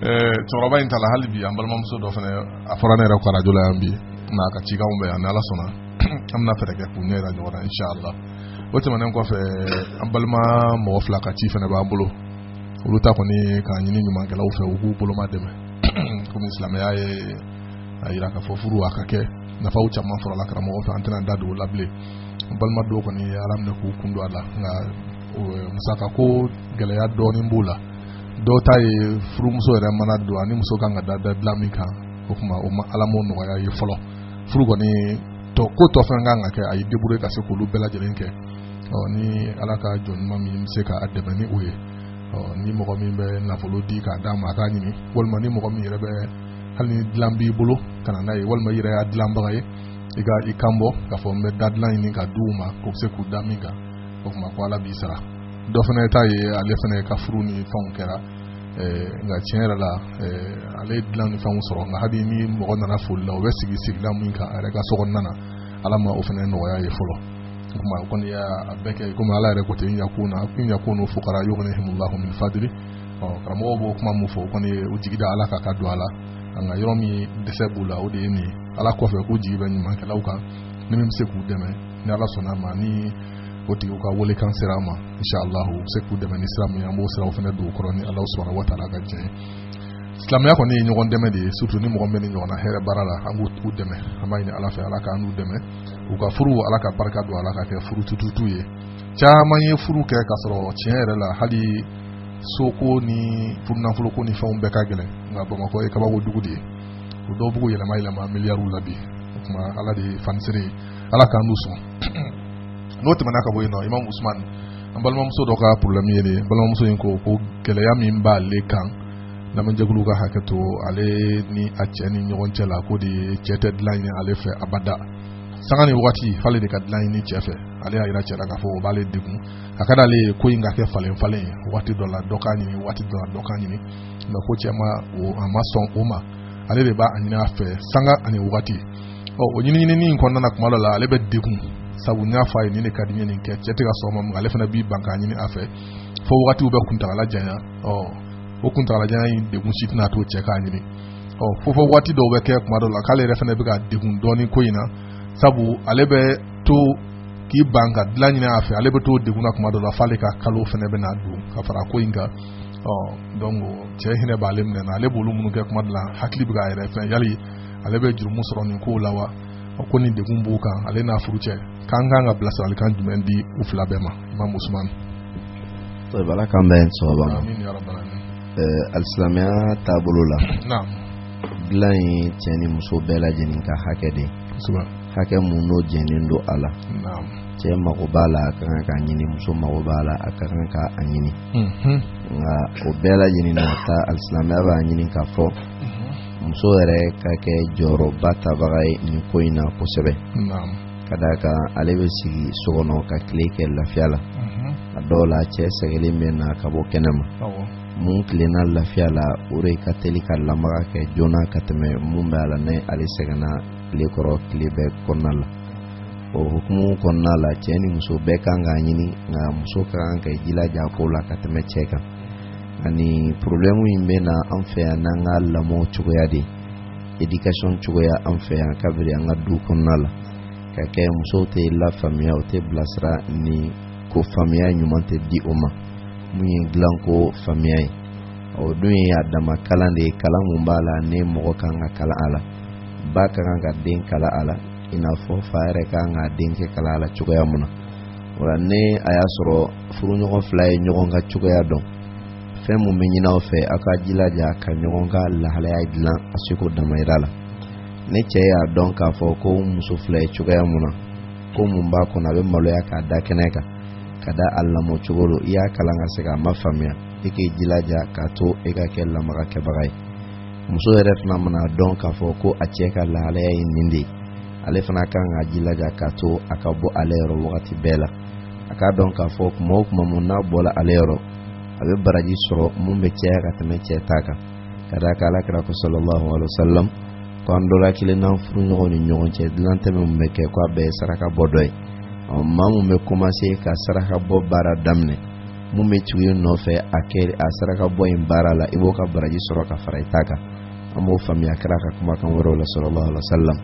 cɛkɔrɔba in ta la hali bi an balimamuso dɔ fana a fɔra ne yɛrɛ kɔ arajo la yan bi n'a ka cikanw bɛ yan ni ala sɔnna an bɛna fɛɛrɛ kɛ k'u ɲɛ yira ɲɔgɔn na inshallah o tɛmɛnen kɔfɛ an balima mɔgɔ fila ka ci fana b'an bolo olu ta kɔni k'a ɲini ɲumankɛlaw fɛ u k'u boloma dɛmɛ komi silamɛya ye a yira k'a fɔ furu a ka kɛ nafaw caman sɔrɔla karamɔgɔ fɛ an tɛna da don o la bilen an balima dɔw kɔni ala minɛ k'u kun don a la nka musaka ko gɛlɛya dɔɔnin b'u la dɔw ta ye furumuso yɛrɛ mana don a ni muso kan ka da da dilan min kan o tuma o ma ala m'o nɔgɔya a ye fɔlɔ furu kɔni tɔ ko tɔ fɛn kan ka kɛ a y'i débrouiller ka se k'olu bɛɛ lajɛlen kɛ ɔ ni ala ka jɔn ɲuman min bɛ se ka a dɛmɛ ni o ye ɔ ni mɔgɔ min bɛ nafolo di k'a d'a ma a k'a ɲini walima ni mɔgɔ min yɛrɛ bɛ hali ni dilan b'i bolo ka na n'a ye walima i yɛrɛ y'a dilanbaga ye i ka i kan bɔ k'a fɔ n bɛ da dilan ɲini ka di u ma k'u bɛ se k'u da min kan o tuma ko ala b'i sara dɔ fana ta ye ale fana ka furu ni fɛnw kɛra eh, nka tiɲɛ yɛrɛ la eh, ale dilan ni fɛnw sɔrɔ nka hali ni mɔgɔ nana foli la o bɛ sigi sigilan min kan a yɛrɛ ka so kɔnɔna na ala ma o fana nɔgɔya a ye fɔlɔ o tuma o kɔni y'a bɛɛ kɛ komi ala yɛrɛ ko ten yakun na kun yakunu fukara yughnihimullahu min fadli ɔ karamɔgɔw b'o kuma mun fɔ o kɔni ye u jigi da ala kan ka don a la nka yɔrɔ min dɛsɛ b'u la o de ye nin ye ala kɔfɛ k'u jigi bɛ ɲumankɛlaw kan ni min bɛ se k'u dɛmɛ ni ala sɔnna ma ni o tigiw ka welekan sera a ma insha allahu u bɛ se k'u dɛmɛ ni sira min an b'o siraw fana don u kɔrɔ ni ala subhanahu wa taala ka diɲɛ silamɛya kɔni ye ɲɔgɔn dɛmɛ de ye surtout ni mɔgɔ min bɛ nin ɲɔgɔnna hɛrɛ baara la an b'u dɛmɛ an b'a ɲini ala fɛ ala k'an n'u dɛmɛ u ka furu ala ka barika don a la k'a kɛ furu tututu ye caman ye furu kɛ k'a sɔrɔ tiɲɛ yɛrɛ la hali soko ni furunafoloko ni fɛnw bɛɛ ka gɛlɛn nka bamakɔ ye kabako dugu de ye o dɔw b'u yɛlɛma yɛlɛma miliyariw la bi o tuma ala de ye fanisere ye ala k'an n'u sɔn n'o tɛmɛna ka bɔ yen nɔ imam usman an balimamuso dɔ ka problème ye de balimamuso in ko ko gɛlɛya min b'ale kan lamɛnjɛkulu ka hakɛ to ale ni a cɛ ni ɲɔgɔn cɛ la ko de ye cɛ tɛ dilan ɲini ale fɛ abada sanga ni wagati f'ale de ka dilan ɲini cɛ fɛ ale y'a yira cɛ la k'a fɔ o b'ale degun a ka d'ale ye ko in ka kɛ falen falen ye waati dɔ la dɔ k'a ɲini waati dɔ la dɔ k'a ɲini mais ko cɛ ma a ma sɔn o ma ale de b'a ɲini a fɛ sanga ani wagati ɔ o ɲiniɲinini in kɔnɔna na kuma dɔ la ale bɛ degun sabu n y'a fɔ a ye nin de ka di n ye nin kɛ cɛ tɛ ka sɔn ma mun ale fana b'i ban k'a ɲini a fɛ fo wagatiw bɛ kuntagala janya ɔ o kuntagala janya in degun si tɛna to cɛ k'a ɲini ɔ fo fo waati dɔw bɛ kɛ kuma dɔw la k'ale yɛrɛ fana bɛ ka degun dɔɔni ko in na sabu ale bɛ to k'i ban ka dilan ɲini a fɛ ale bɛ to degun na kuma dɔw la f'ale ka kalo fana bɛ na don ka fara ko in kan ɔ donc cɛ hinɛ b'ale minɛ na ale b'olu minnu kɛ kuma dɔ la hakili bɛ k'a yɛrɛ fɛn yali ale bɛ jurumu sɔrɔ nin kow la wa a ko ni degun b'u kan ale n'a furucɛ k'an kan ka bilasiralikan jumɛn di u fila bɛɛ ma imam usman ala k'an bɛn sawaba ma alisilamɛya taabolo la dilan ye cɛ ni muso bɛɛ lajɛlen ka hakɛ de hakɛ mun n'o jɛnnen don a la cɛ mago b'a la a ka kan k'a ɲini muso mago b'a la a ka kan k'a ɲini nka o bɛɛ lajɛlen n'a ta alisilamɛya b'a ɲini k'a fɔ muso yɛrɛ ka kɛ jɔyɔrɔba tabaga ye nin ko in na kosɛbɛ ka d'a kan ale bɛ sigi so kɔnɔ ka tile kɛ lafiya la a dɔw la cɛ sɛgɛnlen bɛ na ka bɔ kɛnɛ ma mun tilenna lafiya la o de ka teli ka lamaga kɛ joona ka tɛmɛ mun bɛ a la ni ale sɛgɛnna tile kɔrɔ tile bɛɛ kɔnɔna la o hukumu kɔnɔna la cɛ ni muso bɛɛ kan k'a ɲini nka muso ka kan k'i jilaja ko la ka tɛmɛ cɛ kan ani problème in bɛ na an fɛ yan n'an ka lamɔ cogoya de éducation cogoya an fɛ yan kabiri an ka du kɔnɔna la ka kɛ musow tɛ lafaamuya u tɛ bilasira nin ko faamuya ɲuman tɛ di o ma mun ye dilanko faamuya ye o dun ye a dama kalan de ye kalan mun b'a la ni mɔgɔ ka kan ka kalan a la ba ka kan ka den kalan a la i n'a fɔ fa yɛrɛ ka kan ka denkɛ kalan a la cogoya mun na o la ni a y'a sɔrɔ furuɲɔgɔn fila ye ɲɔgɔn ka cogoya dɔn fɛn min bɛ ɲini aw fɛ aw ka jilaja ka ɲɔgɔn ka lahalaya dilan a seko damayira la ni cɛ y'a dɔn k'a fɔ ko muso fila ye cogoya mun na ko mun b'a kɔnɔ a bɛ maloya k'a da kɛnɛ kan ka da a lamɔ cogo don i y'a kalan ka se k'a mafaamuya i k'i jilaja k'a to e ka kɛ lamaga kɛbaga ye muso yɛrɛ fana mana dɔn k'a fɔ ko a cɛ ka lahalaya ye nin de ye ale fana kan ka jilaja k'a to a ka bɔ ale yɔrɔ wagati bɛɛ la a k'a dɔn k'a fɔ tuma o tuma mun n'a bɔla ale yɔrɔ a bɛ baraji sɔrɔ mun bɛ caya ka tɛmɛ cɛ ta kan ka d'a kan ala kira ko sallallahu alaihi wasallam ko an dɔ la kelen n'an furuɲɔgɔn ni ɲɔgɔn cɛ dilan tɛmɛ min bɛ kɛ ko a bɛɛ ye saraka bɔ dɔ ye ɔ maa mun bɛ commencer ka saraka bɔ baara daminɛ mun bɛ tugu i nɔfɛ a kɛ a saraka bɔ in baara la i b'o ka baraji sɔrɔ ka fara i ta kan an b'o faamuya kira ka kumakan wɛrɛw la sallallahu alaihi wasallam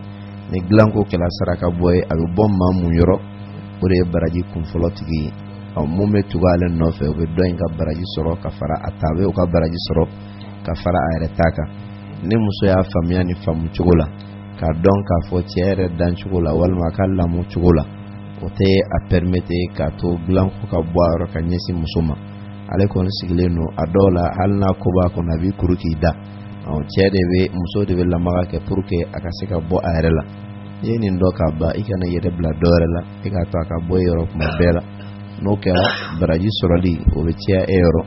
ni dilanko kɛla saraka bɔ ye a bɛ bɔ maa mun yɔrɔ o de ye baraji kunfɔlɔ tigi ye ɔ mun bɛ tugu ale nɔfɛ o bɛ dɔ in ka baraji sɔrɔ ka fara a ta a bɛ o ka baraji sɔrɔ ka fara a yɛrɛ ta kan ni muso y'a faamuya nin faamu cogo la k'a dɔn k'a fɔ cɛ yɛrɛ dan cogo la walima a ka lamɔ cogo la o tɛ a permettre k'a to dilanko ka bɔ a yɔrɔ ka ɲɛsin muso ma ale kɔni sigilen don a dɔw la hali n'a ko b'a kɔnɔ a b'i kuru k'i da cɛ de bɛ muso de bɛ lamaga kɛ pour que a ka se ka bɔ a yɛrɛ la n'i ye nin dɔn k'a ban i kan'i yɛrɛ bila dɔ wɛrɛ la e k'a to a ka bɔ e yɔrɔ kuma bɛɛ la n'o kɛra baraji sɔrɔli o bɛ caya e yɔrɔ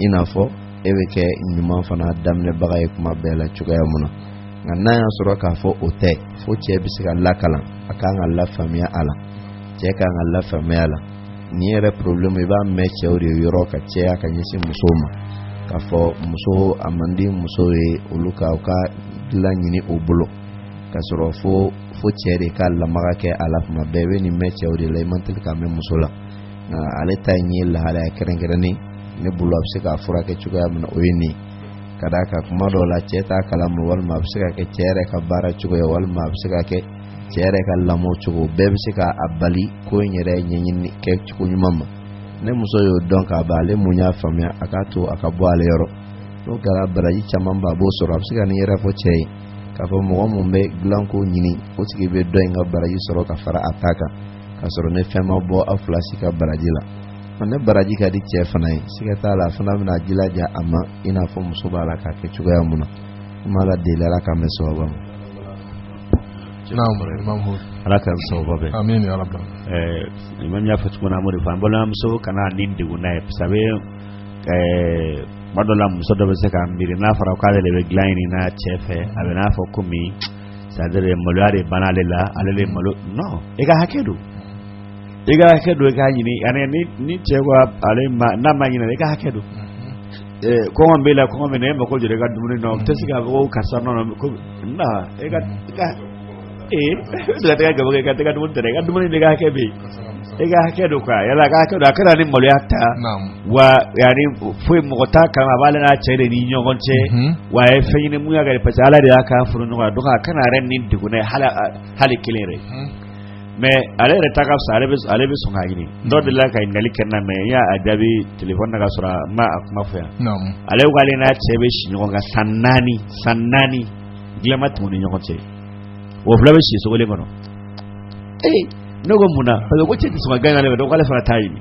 i n'a fɔ e bɛ kɛ ɲuman fana daminɛbaga ye kuma bɛɛ la cogoya mun na nka n'a y'a sɔrɔ k'a fɔ o tɛ fo cɛ bɛ se ka lakalan a kan ka lafaamuya a la cɛ kan ka lafaamuya a la nin yɛrɛ problème i b'a mɛn cɛw de yɔrɔ ka caya ka ɲɛsin musow ma k'a fɔ muso a man di muso ye olu ka u ka dilan ɲini u bolo ka sɔrɔ fo fo cɛ de ka lamaga kɛ a la kuma bɛɛ i bɛ nin mɛn cɛw de la i man teli k'a mɛn muso la nka ale ta in ye lahalaya kɛrɛnkɛrɛnnen ne bolo a bɛ se k'a furakɛ cogoya min na o ye nin ka d'a kan kuma dɔw la cɛ t'a kalama walima a bɛ se ka kɛ cɛ yɛrɛ ka baara cogoya walima a bɛ se ka kɛ cɛ yɛrɛ ka lamɔ cogo bɛɛ bɛ se ka a bali ko in yɛrɛ ɲɛɲini kɛ cogo ɲuman ma ni muso y'o dɔn k'a ban ale mun y'a faamuya a k'a to a ka bɔ ale yɔrɔ n'o kɛra baraji caman ba a b'o sɔrɔ a bɛ se ka nin yɛrɛ fɔ cɛ ye k'a fɔ mɔgɔ min bɛ dilanko ɲini o tigi bɛ dɔ in ka baraji sɔrɔ ka fara a ta kan k'a sɔrɔ ni fɛn ma bɔ aw fila si ka baraji la ni baraji ka di cɛ fana ye siga t'a la a fana bɛna a jilaja a ma i n'a fɔ muso b'a la k'a kɛ cogoya mun na ko n b'ala deli ala k'an bɛn sababu ma ala ka sababu bɛɛ amin ya rabbi eh imam y'a fɔ cogo min na an b'o de fɔ an balimamuso kana ni degun n'a ye sabu tuma dɔ la muso dɔ bɛ se k'a miiri n'a fɔra k'ale de bɛ dilan ɲini n'a cɛ fɛ a bɛ n'a fɔ komi c'est-à-dire maloya de banna ale la ale de malo non i ka hakɛ don i ka hakɛ don i k'a ɲini ani ni ni cɛ ko ale ma n'a ma ɲinɛ i ka hakɛ don kɔngɔ b'e la kɔngɔ bɛ na e mako jɔra i ka dumuni na o tɛ se k'a fɔ ko karisa nɔ ko e gaba i ka tɛgɛ dumuni tɛ i ka dumuni de ka hakɛ bɛ i ka hakɛ don quoi ale ka hakɛ don a kana ni maloya ta wa yanni foyi mɔgɔ t'a kan a b'ale n'a cɛ de ni ɲɔgɔn cɛ wa a ye fɛn ɲini mun y'a kɛ parce que ala de y'a k'a furu ɲɔgɔn na donc a kana yɛrɛ ni degun hali kelen yɛrɛ mais ale yɛrɛ ta ka fisa ale bɛ ale bɛ sɔn k'a ɲini dɔ delila ka ɲininkali kɛ n na mais n y'a jaabi telefɔni na ka sɔrɔ n ma a kuma fɔ yan naamu ale ko k'ale n'a cɛ bɛ si ɲɔgɔn kan san naani san naani diɲɛ ma tɛmɛ u ni ɲɔgɔn cɛ o fila bɛ si so kelen kɔnɔ ee ne ko mun na parce que ko cɛ tɛ sɔn ka kɔn k'a ɲini ale fɛ donc k'ale fana t'a ɲini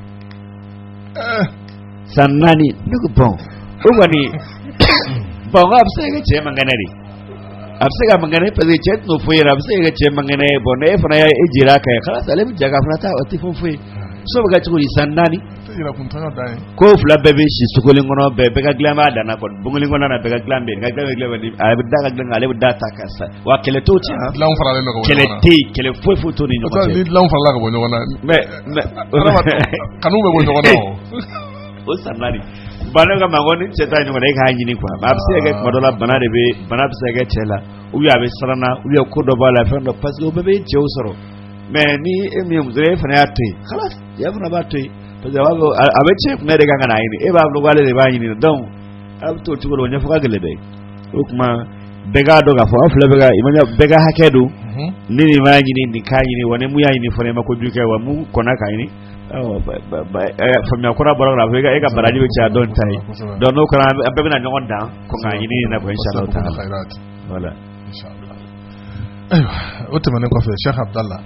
Eh, san naani ne ko bon o kɔni bon k'a bɛ se ka kɛ cɛ man kɛnɛ de a bɛ se ka kɛ a man kɛnɛ parce que cɛ tɛn'o foyi yɛrɛ a bɛ se ka kɛ cɛ man kɛnɛ ye bon n'e fana y'e jira a kan yen khalas ale bɛ ja ka fana taa o tɛ fɔ foyi so bɛ kɛ cogo di san naani ko fila bɛɛ bɛ si so kelen kɔnɔ bɛɛ bɛɛ ka dilan b'a danna kɔni bon kelen kɔnɔ na bɛɛ ka dilan bɛ yen ka dilan bɛ dilan bɛ a bɛ da ka dilan ale bɛ da a ta kan sa wa kɛlɛ t'o cɛ dilan faralen bɛ kɛlɛ tɛ yen kɛlɛ foyi foyi t'o ni ɲɔgɔn cɛ ni dilan farala ka bɔ ɲɔgɔn na mɛ kanu bɛ bɔ ɲɔgɔn na o san naani ba ne ka mago ni cɛ ta ɲɔgɔn e k'a ɲini quoi a bɛ se ka kɛ tuma dɔ la bana de bɛ bana bɛ se ka kɛ cɛ la ou a bɛ siran na ou ko dɔ b'a la fɛn dɔ parce que o bɛɛ bɛ cɛw sɔrɔ mais ni e min ye muso ye e fana y'a to yen khalas cɛ fana b'a to yen parce que a b'a fɔ a bɛ cɛ kun de kan ka n'a ɲini e b'a fɔ k'ale de b'a ɲini donc a bɛ t'o cogo la o ɲɛfɔ ka gɛlɛn dɛ o tuma bɛɛ k'a dɔn k'a fɔ aw fila bɛɛ ka imanya bɛɛ ka hakɛ don ni nin m'a ɲini nin k'a ɲini wa ni mun y'a ɲini fana i ma kojugu kɛ wa mun kɔnna k'a ɲini faamuya kura bɔra la fo e ka baraji bɛ caya dɔ ta ye donc n'o kɛra an bɛɛ bɛna ɲɔgɔn dan ko k'a ɲini na ko insha Allah taala voilà ayiwa o tɛmɛnen kɔfɛ Cheikh Abdallah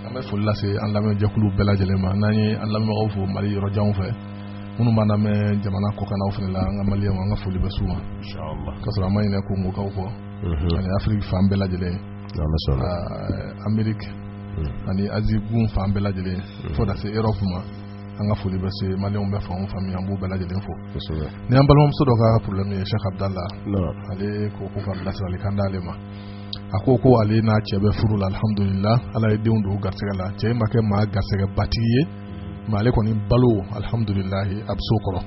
an bɛ foli lase an lamɛnjɛkulu bɛɛ lajɛlen ma n'an ye an lamɛnbagaw fo Mali yɔrɔ janw fɛ minnu b'an lamɛn jamana kɔkannaw fana la an ka maliyɛnw an ka foli bɛ s'u ma k'a sɔrɔ an ma ɲinɛ Kongokaw kɔ ani Afiriki fan bɛɛ lajɛlen Ameriki ani Azi gun fan bɛɛ lajɛlen fo taa se Erɔpu ma an ka foli bɛ se maliyɛnw bɛ fan o fan min an b'u bɛɛ lajɛlen fo ni an balimamuso dɔ ka problème ye Cheikh Abdallah ale ko ko ka bilasirali kan d'ale ma a ko ko ale n'a cɛ bɛ furu la alihamdulila ala ye denw don garisɛgɛ la cɛ ma kɛ maa garisɛgɛbatigi ye mais ale kɔni balo alihamdulila a bɛ so kɔrɔ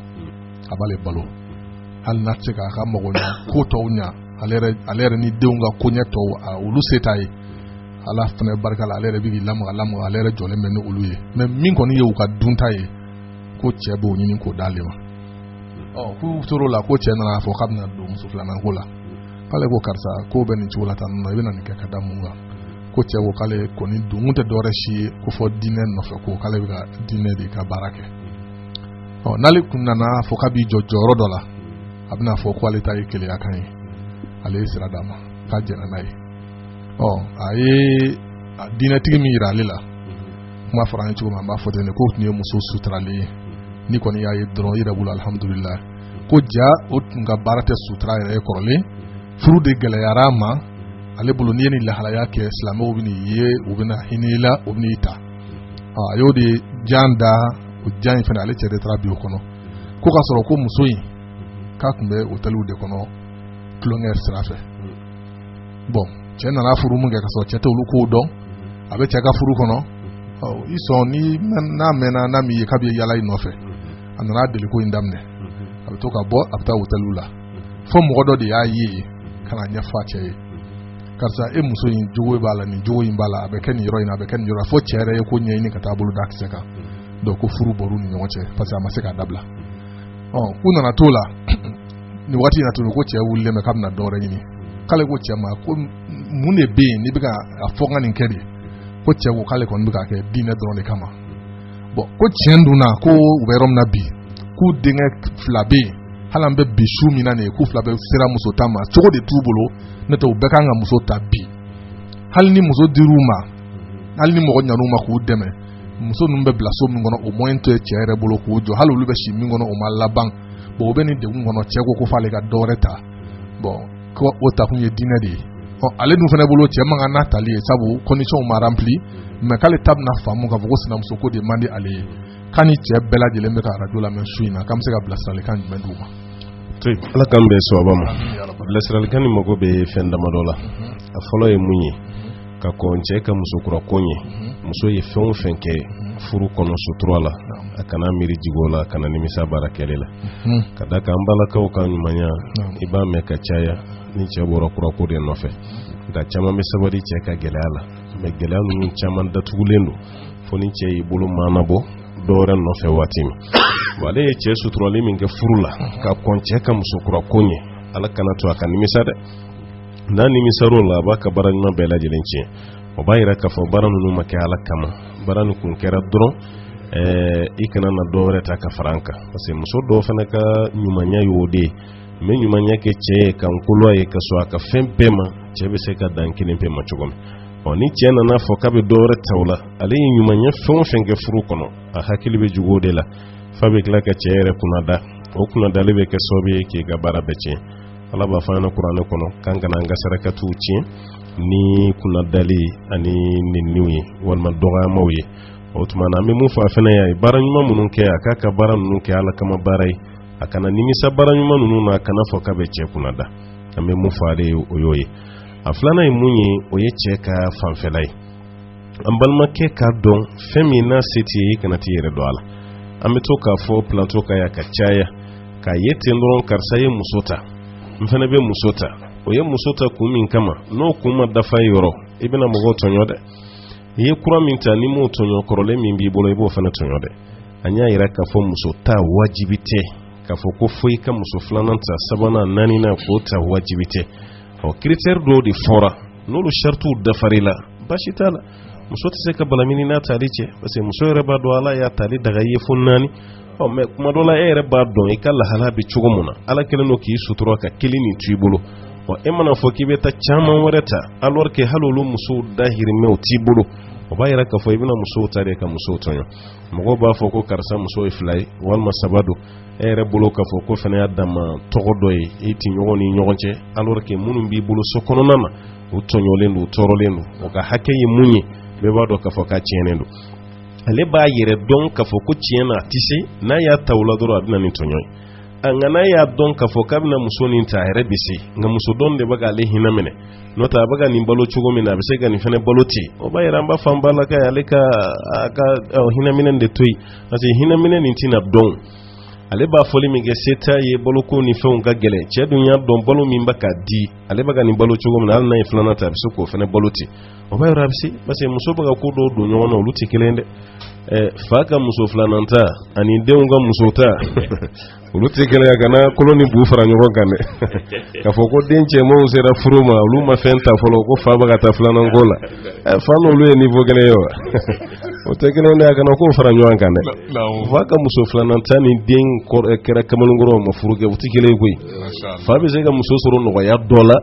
a b'ale balo hali n'a tɛ se k'a ka mago tɔw ɲɛ ale yɛrɛ ni denw ka koɲɛ tɔw olu se t'a ye ala fana barika la ale yɛrɛ bɛ k'i lamaga lamaga ale yɛrɛ jɔlen bɛ ni olu ye mais min kɔni ye u ka dunta ye ko cɛ b'o ɲini k'o d'ale ma k'u tor'o la ko cɛ nana fɔ k'a bɛna don muso filanan ko la k'ale ko karisa ko bɛ nin cogo la tan nɔ i bɛna nin kɛ ka da mun kan ko cɛ ko k'ale kɔni don tɛ dɔwɛrɛ si ye ko fo diinɛ nɔfɛ ko k'ale bɛ ka diinɛ de ka baara kɛ ɔ n'ale kun nana fɔ k'a b'i jɔ jɔyɔrɔ dɔ la a bɛna fɔ ko ale ta ye keleya kan ye ale ye sira d'a ma k'a jɛnna n'a ye ɔ a ye diinɛtigi min yira ale la kuma fɔra an ye cogo min an b'a fɔ ten de k'o tun ye muso suturalen ye n'i kɔni y'a ye dɔrɔn i yɛrɛ bolo alihamudulila ko ja o tun ka baara tɛ sutura yɛrɛ ye kɔrɔlen furu de gɛlɛyara a ma ale bolo n'i ye nin lahalaya kɛ silamɛw bɛ n'i ye u bɛna hinɛ i la u bɛn'i ta a y'o de jan da o jan in fana ale cɛ de taara bi o kɔnɔ ko k'a sɔrɔ ko muso in k'a tun bɛ otɛliw de kɔnɔ tulonkɛ sira fɛ bon cɛ nana furu min kɛ ka sɔrɔ cɛ tɛ olu kow dɔn a bɛ cɛ ka furu kɔnɔ i sɔn ni n'a mɛnna n'a m'i ye k'a bɛ yala i nɔfɛ a nana deli ko in daminɛ a bɛ to ka bɔ a bɛ taa otɛliw la fo mɔgɔ dɔ de y'a ye ka na ɲɛfɔ a cɛ ye karisa e muso in jogo b'a la nin jogo in b'a la a bɛ kɛ nin yɔrɔ in na a bɛ kɛ nin yɔrɔ fo cɛ yɛrɛ ye ko ɲɛɲini ka taa bolo da kisɛ kan donc ko furu bɔr'u ni ɲɔgɔn cɛ parce que a ma se k'a dabila ɔ u nana t'o la nin waati in na tuguni ko cɛ wulilen bɛ k'a bɛna dɔwɛrɛ ɲini k'ale ko cɛ ma ko mun de bɛ yen n'i bɛ ka a fɔ ka nin kɛ de ko cɛ ko k'ale kɔni bɛ k'a kɛ diinɛ dɔrɔn de kama bon ko tiɲɛ dun na ko u bɛ yɔrɔ min na bi k'u denkɛ fila bɛ yen hali an bɛ bi su min na nin ye k'u fila bɛɛ sera muso ta ma cogo de t'u bolo n'o tɛ u bɛɛ kan ka muso ta bi hali ni muso dir'u ma hali ni mɔgɔ ɲan'u ma k'u dɛmɛ muso ninnu bɛ bila so min kɔnɔ o moyen tɛ cɛ yɛrɛ bolo k'o jɔ hali olu bɛ si min kɔnɔ o ma laban bon o bɛ nin degun kɔnɔ cɛ ko ko f'ale ka dɔ wɛrɛ ta bon ko o takun ye diinɛ de ye ɔ ale dun fana bolo cɛ man kan n'a tali ye sabu condition ma rempli mais k'ale ta bɛna faamu k'a fɔ ko sinamuso ko de man di ale ye k'a ni cɛ bɛɛ lajɛlen bɛ ka arajo lamɛn su in na k'an bɛ se ka bilasiralikan jumɛn d'u ma ala k'an bɛn sawaba ma bilasiralikan nin mago bɛ fɛn damadɔ la a fɔlɔ ye mun ye ka kɔn cɛ ka musokura ko ɲɛ muso ye fɛn o fɛn kɛ furu kɔnɔ sutura la a kana miiri jig'o la a kana nimisa baara kɛlen na ka da kan an balakaw ka ɲumanya i b'a mɛn ka caya ni cɛ bɔra kurako de nɔfɛ nka caman bɛ sabali cɛ ka gɛlɛya la mais gɛlɛya ninnu caman datugulen don fo ni cɛ y'i bolo maanabɔ dɔwɛrɛ nɔfɛ waati min wa ale ye cɛ suturali min kɛ furu la ka kɔn cɛ ka musokura ko ɲɛ ala kana to a ka nimisa dɛ n'a nimisar'o la a b'a ka baara ɲuman bɛɛ lajɛlen tiɲɛ o b'a yira k'a fɔ baara ninnu ma kɛ ala kama baara nin kun kɛra dɔrɔn i kana na dɔ wɛrɛ ta ka fara an kan parce que muso dɔw fana ka ɲumanya y'o de ye n bɛ ɲumanya kɛ cɛ ye ka n kolo a ye ka sɔn a ka fɛn bɛɛ ma cɛ bɛ se ka dan kelen pe ma cogo min ɔ ni cɛ nana fɔ k'a bɛ dɔ wɛrɛ ta o la ale ye ɲumanya fɛn o fɛn kɛ furu kɔnɔ a hakili bɛ jigin o de la f'a bɛ tila ka cɛ yɛrɛ kunnada o kunnadali bɛ kɛ sababu ye k'i ka baara bɛɛ tiɲɛ ala b'a fɔ an ɲɛna kuranɛ kɔnɔ k'an kana an ka sarakatiw tiɲɛ ni kunnadali ani neniw ye walima dɔgɔyamaw ye o tuma na an bɛ mun fɔ a fana y'a ye baara ɲuman minnu kɛ a k'a ka baara ninnu kɛ ala kama baara ye a kana nimisa baara ɲuman ninnu na a kana fɔ k'a bɛ cɛ kunna da an bɛ mun fɔ ale ye o y'o ye a filanan ye mun ye o ye cɛ ka fanfɛla ye an balimakɛ k'a dɔn fɛn min n'a se t'i ye i kana t'i yɛrɛ don a la an bɛ to k'a fɔ plateau kan yan ka caya k'a ye ten dɔrɔn karisa ye muso ta n fana bɛ muso ta o ye muso ta kun min kama n'o kun ma dafa i yɔrɔ i bɛna mɔgɔw tɔɲɔ dɛ i ye kura min ta n'i m'o tɔɲɔ kɔrɔlen min b'i bolo i b'o fana tɔɲɔ dɛ an y'a yira k'a fɔ muso ta wajibi tɛ k'a fɔ ko fo i ka muso filanan ta sabanan naaninan k'o ta wajibi tɛ ɔ critère dɔw de fɔra n'olu sharitiw dafar'i la basi t'a la muso tɛ se ka balamini n'a tali cɛ parce que muso yɛrɛ b'a dɔn ala y'a tali daga i ye fo naani ɔ mais kuma dɔ la e yɛrɛ b'a dɔn i ka lahala bɛ cogo min na ala kɛlen don k'i sutura ka kelen nin t'i bolo ɔ e mana fɔ k'i bɛ taa caman wɛrɛ ta alors que hali olu musow dahirimɛw t'i bolo o b'a yira k'a fɔ i bɛna musow ta de ka musow tɔɲɔ mɔgɔw b'a fɔ ko karisa muso ye fila ye walima saba don e yɛrɛ bolo k'a fɔ k'o fana y'a dama tɔgɔ dɔ ye e tɛ ɲɔgɔn ni ɲɔgɔn cɛ alors que minnu b'i bolo so kɔnɔna na u tɔɲɔlen don u tɔɔrɔlen don o ka hakɛ ye mun ye bɛɛ b'a dɔn k'a fɔ k'a tiɲɛnen don ale b'a yɛrɛ dɔn k'a fɔ ko tiɲɛ na a tɛ se n'a y'a ta la dɔrɔn a bɛ na ni tɔɲɔ ye a nka n'a y'a dɔn k'a fɔ k'a bɛna muso nin ta a yɛrɛ bɛ se nka muso dɔn de bɛ k'ale hinɛ minɛ n'o tɛ a bɛ ka nin balo cogo min na a bɛ se ka nin fana balo ten o b'a yira an b'a fɔ an balakaw ye ale ka a ka hinɛminɛ de to yen parce que hinɛminɛ nin tɛna dɔn ale b'a fɔli min kɛ se t'a ye baloko ni fɛnw ka gɛlɛn cɛ dun y'a dɔn balo min bɛ ka di ale bɛ ka nin balo cogo min na hali n'a ye filanan ta a bɛ se k'o fana balo ten o b'a yɔrɔ a bɛ se parce que muso bɛ ka ko dɔw don ɲɔgɔn na olu tɛ kelen dɛ fa ka muso filanan ta ani denw ka muso ta olu tɛ kelen ye kana kolo ni bu fara ɲɔgɔn kan dɛ k'a fɔ ko den cɛmanw sera furu ma olu ma fɛn ta fɔlɔ ko fa bɛ ka taa filanan ko la fa n'olu ye niveau kelen ye wa o tɛ kelen dɛ a kana k'o fara ɲɔgɔn kan dɛ fa ka muso filanan ta ni den kɛra kamalenkɔrɔ ma furu kɛ u tɛ kelen ye koyi fa bɛ se ka muso sɔrɔ nɔgɔya dɔ la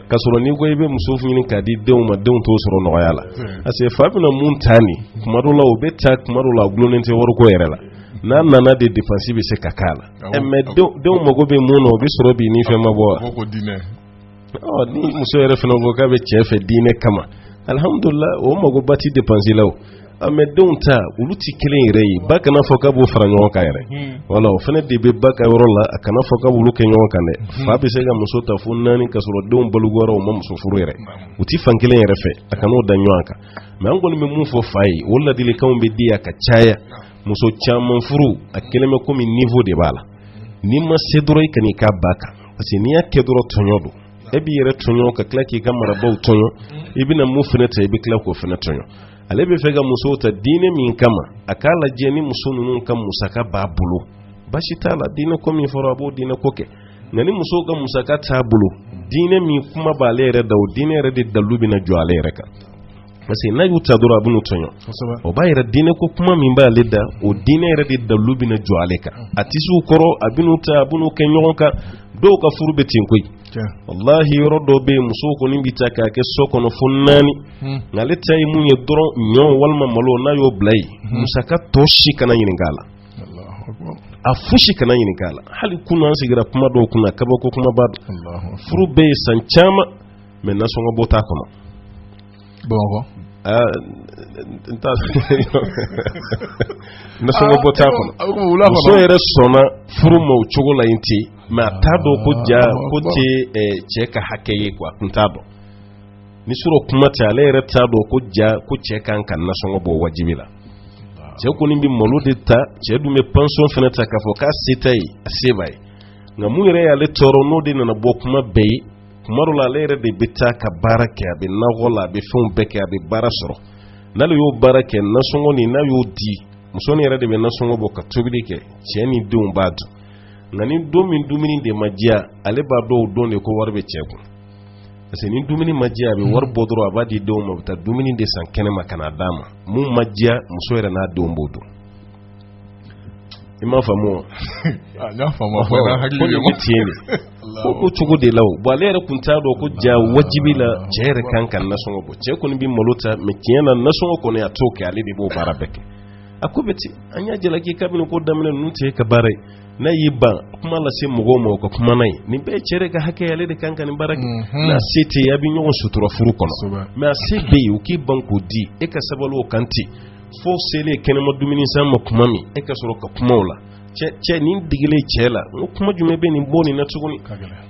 ka sɔrɔ n'i ko i bɛ muso ɲini k'a di denw ma denw t'o sɔrɔ nɔgɔya la parce que fa bɛna mun ta nin kuma dɔw la o bɛ ta kuma dɔw la a dulonnen tɛ wariko yɛrɛ la n'a nana de dépense bɛ se ka k'a la eh, mais denw mago bɛ mun na o bɛ sɔrɔ bi ni fɛn ma bɔ wa oh, ni muso yɛrɛ fana ko k'a bɛ cɛ fɛ diinɛ kama alihamudulila o magoba tɛ dépense la o ah, mais denw ta olu tɛ kelen yɛrɛ ye ba kana fɔ k'a b'o fara ɲɔgɔn kan yɛrɛ hmm. wala o fana de bɛ ba ka yɔrɔ la a kana fɔ k'a b'olu kɛ ɲɔgɔn kan dɛ hmm. fa bɛ se ka muso ta fo naani ka sɔrɔ denw balikuyara o ma muso furu yɛrɛ u tɛ fan kelen yɛrɛ fɛ a kan'o da ɲɔgɔn kan mais an kɔni bɛ mun fɔ fa ye o ladilikanw bɛ di a ka caya muso caman furu a kelen bɛ komi niveau de b'a la n'i ma se dɔrɔn i kan'i karab'a kan parce que n'i y'a kɛ dɔrɔn tɔɲɔ don e b'i yɛrɛ tɔɲɔ ka tila k'i ka marabagaw tɔɲɔ i bɛna mun fana ta i bɛ tila k'o fana tɔɲɔ ale bɛ fɛ ka musow ta diinɛ min kama a k'a lajɛ ni muso ninnu ka musaka b'a bolo basi t'a la diinɛ ko min fɔra a b'o diinɛ ko kɛ nka ni musow ka musaka t'a bolo diinɛ min kuma b'ale yɛrɛ da o diinɛ yɛrɛ de dalu bɛna jɔ ale yɛrɛ kan parce que n'a y'u ta dɔrɔn a bɛn'u tɔɲɔ o b'a yɛrɛ diinɛ ko kuma min b'ale da o diinɛ yɛrɛ de dalu bɛna jɔ ale kan a tɛ se u kɔrɔ a bɛn'u ta a bɛn'u kɛ ɲɔgɔn kan dɔw ka furu bɛ ten koyi walahi yɔrɔ dɔ bɛ yen musow kɔni bɛ ta k'a kɛ so kɔnɔ fo naani hmm. nka ale ta ye mun ye dɔrɔn ɲɔ walima malo n'a y'o bila yen hmm. musaka tɔ si kana ɲininka a la a fosi kana ɲininka a la hali kunun an sigira kuma dɔw kunna kabako kumaba don furu bɛ yen san caman mais nasɔngɔ bɔ t'a kɔnɔ bamakɔ nasɔngɔ bɔ t'a kɔnɔ muso yɛrɛ sɔnna furu ma o cogo la yen ten mais a t'a dɔn ko ja ko tɛ cɛ ka hakɛ ye quoi a kun t'a dɔn ni sɔrɔ kuma tɛ ale yɛrɛ t'a dɔn ko ja ko cɛ kan ka nasɔngɔ bɔ wajibi la cɛ kɔni bɛ malo de ta cɛ dun bɛ pension fana ta k'a fɔ k'a se t'a ye a se b'a ye nka mun yɛrɛ y'ale tɔɔrɔ n'o de nana bɔ kuma bɛɛ ye kuma dɔ la ale yɛrɛ de bɛ taa ka baara kɛ a bɛ nakɔ la a bɛ fɛnw bɛɛ kɛ a bɛ baara sɔrɔ n'ale y'o baara kɛ nasɔngɔ nin n'a y'o di muso nin yɛrɛ de bɛ nasɔngɔ bɔ ka tobili kɛ cɛ ni denw b'a dun nka ni don min dumuni de ma diya ale b'a dɔn o don de ko wari bɛ cɛ kun parce que ni dumuni ma diya a bɛ wari bɔ dɔrɔn a b'a di denw ma u bɛ taa dumuni de san kɛnɛ ma ka n'a d'a ma mun ma diya muso yɛrɛ n'a denw b'o dun i m'a faamu wa ko cogo de la wa ale yɛrɛ tun t'a dɔn ko ja wajibi la cɛ yɛrɛ kan ka nasɔngɔ bɔ cɛ kɔni bɛ malo ta mais tiɲɛ na nasɔngɔ kɔni a t'o kɛ ale de b'o baara bɛɛ kɛ a ko bɛ ten an y'a jalaki kabini ko daminɛ ninnu t'e ka baara ye n'a y'i ban kuma lase mɔgɔw ma o ka kuma n'a ye nin bɛɛ ye cɛ de ka hakɛ ale de kan ka nin baara kɛ mhm. n'a se tɛ a bɛ ɲɔgɔn sutura furu kɔnɔ mais a se bɛ yen o k'i ban k'o di e ka sabali o kan ten fo selen kɛnɛma dumuni san ma kuma min e ka sɔrɔ ka kumaw la cɛ ni digilen cɛ la n ko kuma jumɛn bɛ nin bɔ nin na tuguni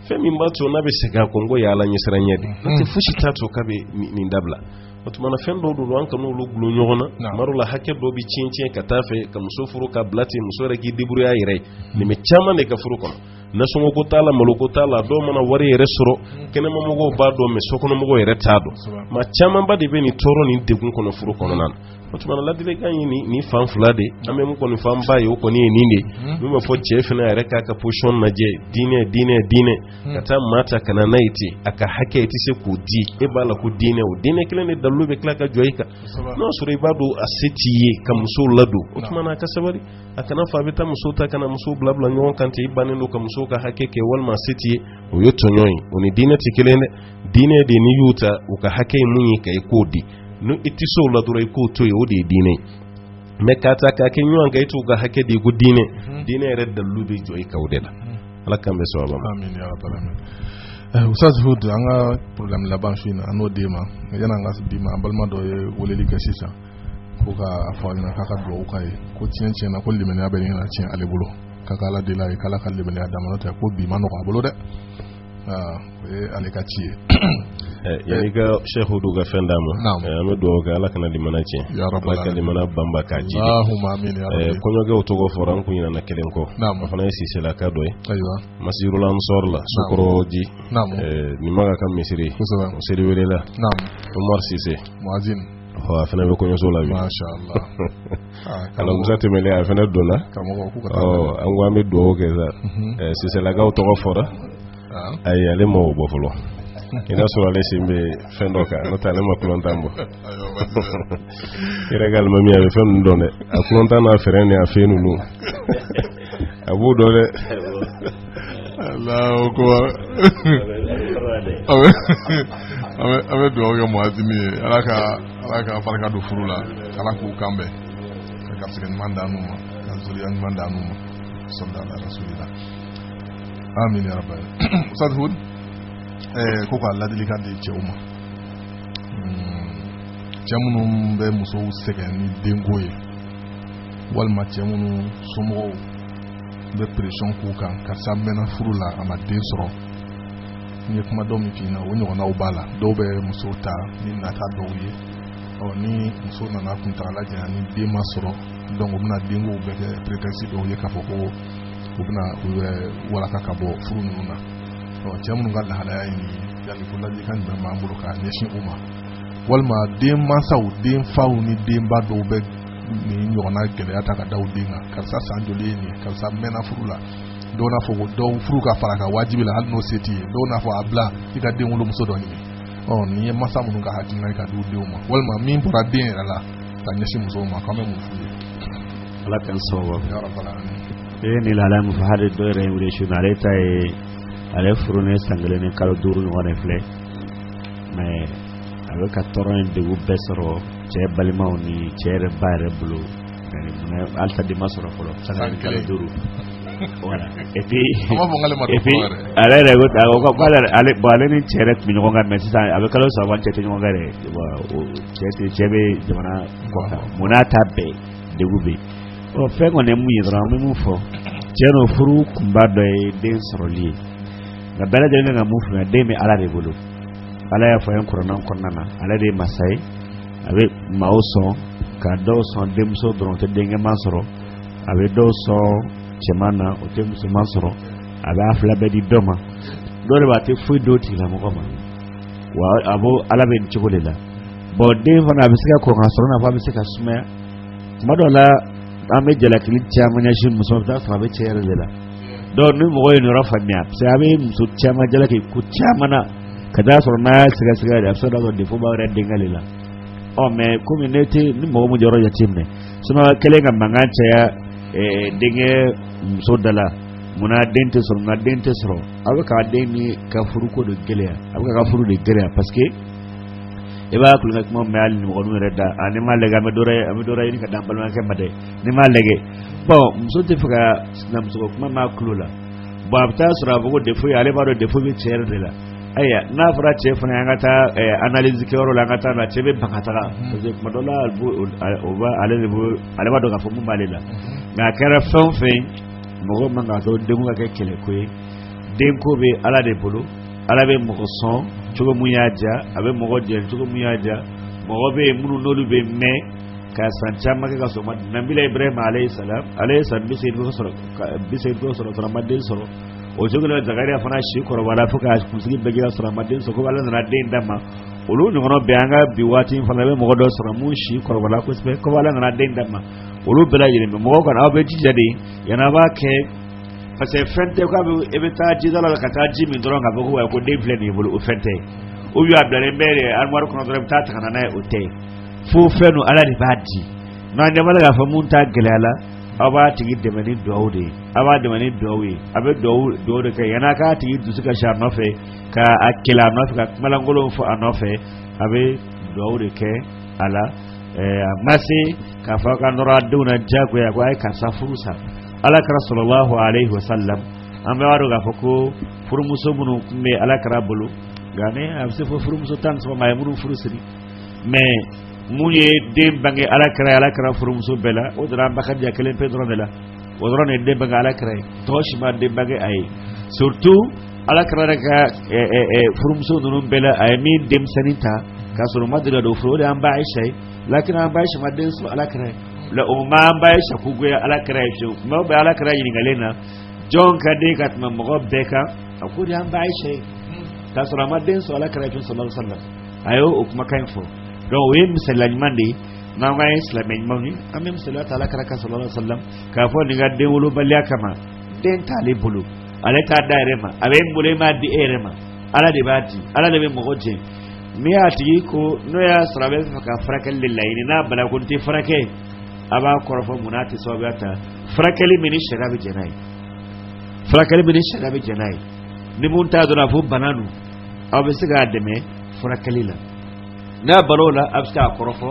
fɛn min b'a to n'a bɛ segin a kɔ n ko y'ala ɲɛsiranɲɛ de n'o tɛ fosi t'a to k'a bɛ nin dabila o tuma na fɛn dɔw don an kan'olu gulon ɲɔgɔn na tuma dɔw la hakɛ dɔw bɛ tiɲɛ tiɲɛ ka taa fɛ ka muso furu k'a bila ten muso yɛrɛ k'i débrouiller a yɛrɛ ye nin bɛ caman de ka furu kɔnɔ nasɔngɔko t'a la maloko t'a la dɔw mana wari yɛrɛ sɔrɔ kɛnɛmamɔgɔw b'a dɔn mais sokɔnɔmɔgɔw yɛrɛ t'a dɔn maa camanba de bɛ nin tɔɔrɔ ni degun kɔnɔ furu kɔnɔna na o tuma na ladilikan ye nin fan fila de an bɛ min kɔni fanba ye o kɔni ye nin de min b'a fɔ cɛ fana yɛrɛ k'a ka position lajɛ diinɛ diinɛ diinɛ ka taa maa ta ka na n'a ye ten a ka hakɛ i tɛ se k'o di e b'a la ko diinɛ o diinɛ kelen de dalilu bɛ tila ka jɔ i kan n'o y'a sɔrɔ i b'a dɔn a se t'i ye ka musow ladon o tuma na a ka sabali a kana fɔ a bɛ taa muso ta ka na muso bila bila ɲɔgɔn kan i bannen don ka muso ka hakɛ kɛ walima se t'i ye o ye tɔɲɔn ye o ni diinɛ tɛ kelen dɛ diinɛ de n'i y'u ta u ka hakɛ ye mun ye ka i k'o di ni i tɛ se o la dɔrɔn i k'o to yen o de ye diinɛ ye mais k'a ta k'a kɛ ɲɔgɔn kan i t'u ka hakɛ di ko diinɛ mhm. diinɛ yɛrɛ dalilu bɛ jɔ i kan o de la mhm. ala k'an bɛn sawaba ma. Eh, ustaz hud an ka programme laban su in na an n'o d'e ma yann'an k'a d'i ma an balima dɔ ye weleli kɛ sisan ko ka a fɔ ɲɛna k'a ka dugawu k'a ye ko tiɲɛ tiɲɛ na ko limaniya bɛ ɲini ka tiɲɛ ale bolo ka ka ala deli a ye k'ala ka limaniya d'a ma n'o tɛ ko bi ma nɔgɔ a bolo dɛ o ye ale ka ci ye yanni ka cheikh hud ka fɛn d'a ma an bɛ dugawu kɛ ala kana limana tiɲɛ ala ka limana banba k'a ji kɔɲɔkɛw tɔgɔ fɔra an kun ɲinana kelen kɔ o fana ye siselaka dɔ ye masirul ansɔr la sokɔrɔji ni maka ka misiri o seriwelela omar sise a fana bɛ kɔɲɔso la bi alamisa tɛmɛnen a fana donna an ko an bɛ dugawu kɛ sa siselakaw tɔgɔ fɔra a ye ale ma bɔ fɔlɔ i n'a sɔrɔ ale sen bɛ fɛn dɔ kan n'o tɛ ale ma kutan bɔ i yɛrɛ ka alimami a bɛ fɛn dɔn dɛ a kutan n'a fɛ ni a fɛ ninnu a b'o dɔn dɛ alahu akbar an bɛ dugawu kɛ muwazini ye ala ka ala ka barika don furu la ala k'u kan bɛn ka garisɛgɛ ɲuman d'an n'u ma ka zuriya ɲuman d'an n'u ma sɔlu ala rasulila amin ya rabbal ustaz hud eh, ko ka ladilikan di cɛw ma hmm, cɛ minnu bɛ musow sɛgɛn ni denko ye walima cɛ minnu somɔgɔw bɛ pression k'u kan karisa mɛnna furu la a ma den sɔrɔ n ye kuma dɔ min f'i ɲɛna o ɲɔgɔnnaw b'a la dɔw bɛ muso ta ni nata dɔw ye ɔ ni muso nana kuntagala janya ni den ma sɔrɔ donc u bɛna denko bɛɛ kɛ prétexte dɔ ye k'a fɔ ko u bɛna u yɛrɛ walaka ka bɔ furu ninnu na ɔ cɛ minnu ka lahalaya ye nin ye yala ko laadilikan jumɛn b'an bolo k'a ɲɛsin u ma walima denmansaw denfaw ni denba dɔw bɛ nin ɲɔgɔnna gɛlɛya ta ka da den kan karisa san joli ye nin karisa mɛnna furu la dɔw n'a fɔ ko dɔ furu ka fara a kan wajibi la hali n'o se t'i ye dɔw n'a fɔ a bila i ka denwolomuso dɔ ɲini ɔ nin ye masa minnu ka hakilina ye ka di u denw ma walima min bɔra den yɛrɛ la ka ɲɛsin musow ma k'an bɛ mun f'u ye ala k'an sababu e ni lahala min fɔ hali dɔ yɛrɛ ye n wele su in na ale ta ye ale furulen san kelen ni kalo duuru ɲɔgɔn de filɛ mais a bɛ ka tɔɔrɔ ni degun bɛɛ sɔrɔ cɛ balimaw ni cɛ yɛrɛ ba yɛrɛ bolo halisa den ma sɔrɔ fɔlɔ san kelen kalo duuru ale yɛrɛ bon ale ni cɛ yɛrɛ tun bɛ ɲɔgɔn kan mais sisan a bɛ kalo saba cɛ tɛ ɲɔgɔn kan dɛ cɛ bɛ jamana kɔkan nin n'a ta bɛɛ degun bɛ yen fɛn kɔni ye mun ye dɔrɔn an bɛ mun fɔ cɛ n'o furu kunba dɔ ye den sɔrɔli ye nka bɛɛ lajɛlen ka mun faamuya den bɛ ala de bolo ala y'a fɔ an ye kuranɛ kɔnɔna na ale de ye masa ye a bɛ maaw sɔn ka dɔw sɔn denmuso dɔrɔn o tɛ denkɛman sɔrɔ a bɛ dɔw sɔn cɛman na o tɛ musoman sɔrɔ a bɛ a fila bɛɛ di dɔ ma dɔw de b'a tɛ foyi d'o tigilamɔgɔ ma wa a b'o ala bɛ nin cogo de la bon den fana a bɛ se ka kɔn ka sɔrɔ i n'a fɔ a bɛ se ka sumaya tuma dɔw la an bɛ jalakili caman ɲɛsin muso ma i bɛ t'a sɔrɔ a bɛ cɛ yɛrɛ de la donc ni mɔgɔ ye nin yɔrɔ faamuya parce an bɛ muso caman jalaki ko caman na ka t'a sɔrɔ n'a y'a sɛgɛsɛgɛ de a bɛ se ka sɔrɔ défaut b'a yɛrɛ denkɛ de la ɔ mais komi ne tɛ ni mɔgɔ min jɔyɔrɔ jateminɛ siɲɛ kelen ka mankan caya denkɛ muso da la munna den tɛ sɔrɔ nka den tɛ sɔrɔ a bɛ ka dennin ka furuko de gɛlɛya a bɛ k'a ka furu de gɛlɛya parce que i b'a kulonkɛ kuma mɛn hali nimɔgɔninw yɛrɛ da a n'i m'a lajɛ an bɛ dɔ an bɛ dɔ ɲini ka d'an balimakɛ ma dɛ N'i m'a lajɛ bon muso t'a fɛ ka sinamuso kuma mɛn a tulo la bon a bɛ t'a sɔrɔ a fɔ ko défaut in ale b'a dɔn défaut in bɛ cɛ de la ayiwa n'a fɔra cɛ fana an ka taa analyse kɛyɔrɔ la an ka taa la cɛ bɛ ban ka taga parce que tuma dɔ la ale b'a dɔn k'a fɔ min b'ale la nka a kɛra fɛn o fɛn mɔgɔ man kan k'a to denko ka kɛ kɛlɛko ye denko bɛ ala de bolo ala bɛ mɔgɔ sɔn cogo min y'a diya a bɛ mɔgɔ jɛ cogo min y'a diya mɔgɔ bɛ yen minnu n'olu bɛ mɛn ka san caman kɛ ka sɔrɔ ma nabila ibrahima alayhi salam ale ye san bi seegin dɔ sɔrɔ ka bi seegin dɔ sɔrɔ sɔrɔ ma den sɔrɔ o cogo la zakariya fana si kɔrɔbaya fo ka kunsigi bɛɛ jɛra sɔrɔ ma den sɔrɔ kɔ ala nana den d'a ma olu ɲɔgɔnna bɛɛ an ka bi waati in fana bɛ mɔgɔ dɔ sɔrɔ mun si kɔrɔbaya kosɛbɛ kɔ ala nana den d'a ma olu bɛɛ lajɛlen bɛ mɔgɔw kana aw bɛ jija de yan'a b'a kɛ parce que fɛn tɛ k'a fɔ e bɛ taa jidaga la ka taa ji min dɔrɔn k'a fɔ ko wa ko den filɛ nin ye bolo o fɛn tɛ ou bien a bilalen bɛ armoire kɔnɔ dɔrɔn i bɛ taa ta ka na n'a ye o tɛ fo fɛn don ala de b'a di n'an ɲɛ b'a la k'a fɔ mun ta gɛlɛya la aw b'a tigi dɛmɛ ni duwawu de ye aw b'a dɛmɛ ni duwawu ye a bɛ duwawu duwawu de kɛ yan'a k'a tigi dusu kasi a nɔfɛ ka a kɛlɛ a nɔfɛ ka kuma lankolonw fɔ a nɔfɛ a bɛ duwawu de kɛ a la ɛɛ a ma se k'a fɔ ka nɔrɔ a denw na diyagoya ko a ye karisa furu sa alakira sallallahu alayhi wa sallam an bɛɛ b'a dɔn k'a fɔ ko furumuso minnu tun bɛ alakira bolo nka ni a bɛ se fo furumuso tan ni saba ma a ye minnu furu siri mais mun ye den bange alakira alakira furumuso bɛɛ la o dara an ba kadija kelen pe dɔrɔn de la o dɔrɔn de den bange alakira ye tɔw si ma den bange a ye surtout alakira yɛrɛ ka furumuso ninnu bɛɛ la a ye min denmisɛnnin ta k'a sɔrɔ ma deli ka don furu o de y'an ba ayisa ye lakin an ba ayisa ma den sɔrɔ alakira ye o ma an ba ayisa ko goya alakira ye fiyewu mais o bɛɛ alakira ɲininkalen na jɔn ka d'i ye ka tɛmɛ mɔgɔ bɛɛ kan a k'o de y'an ba ayisa ye k'a sɔrɔ a ma den sɔrɔ alakira ye fiyewu sallallahu alaihi wa sallam a y'o o kumakan in fɔ donc o ye misaliya ɲuman de ye n'an k'an ye silamɛ ɲumanw ye an bɛ misaliya ta alakira kan sallallahu alaihi wa sallam k'a fɔ nin ka den wolobaliya kama den t'ale bolo ale t'a d'a yɛrɛ ma a bɛ min bolo e m'a di e yɛrɛ ma ala de b'a di ala de bɛ mɔgɔ jɛ n'i y'a tigi ko n'o y'a sɔrɔ a bɛ fɛ ka furakɛli de laɲini n'a banna ko n tɛ furakɛ a b'a kɔrɔfɔ mun n'a tɛ sababuya ta furakɛli min ni sariya bɛ jɛn n'a ye furakɛli min ni sariya bɛ jɛn n'a ye ni mun t'a dɔn k'a fɔ bana don aw bɛ se k'a dɛmɛ furakɛli la n'a banna o la a bɛ se k'a kɔrɔfɔ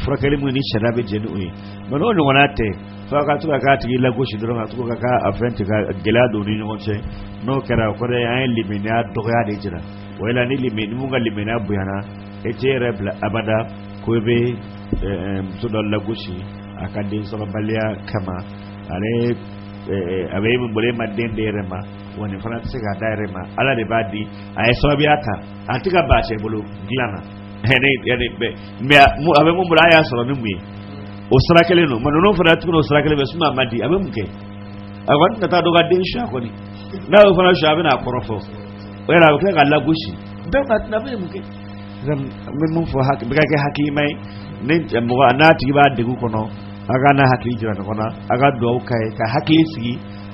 furakɛli min ni sariya bɛ jɛn ni o ye mais n'o ɲɔgɔnna tɛ fo ka to ka k'a tigi lagosi dɔrɔn ka to ka k'a fɛn tigɛ ka gɛlɛya don ni ɲɔgɔn cɛ n'o kɛra o kɔrɔ ye an ye limaniya dɔgɔya de jira o la ni limani mun ka limaniya bonyana e t'i yɛrɛ bila abada ko i bɛ muso dɔ lagosi a ka den sɔrɔbaliya kama ale a bɛ e min bolo e ma den d'e yɛrɛ ma wa nin fana tɛ se k'a d'a yɛrɛ ma ala de b'a di a ye sababuya ta a tɛ ka ban cɛ bolo dilan na mais a bɛ mun bolo a y'a sɔrɔ ni mun ye o sira kelen don mais ninnu fana tuguni o sira kelen bɛ suma a ma di a bɛ mun kɛ a kɔni tɛ taa dɔ ka den sonya kɔni n'a y'o fana sonya a bɛna a kɔrɔfɔ o yɛrɛ a bɛ tila ka lagosi bɛɛ ka tɛna bɛ mun kɛ n bɛ mun fɔ bɛɛ ka kɛ hakilima ye ni mɔgɔ n'a tigi b'a degun kɔnɔ a ka n'a hakili jira ɲɔgɔn na a ka dugawu k'a ye ka hakili sigi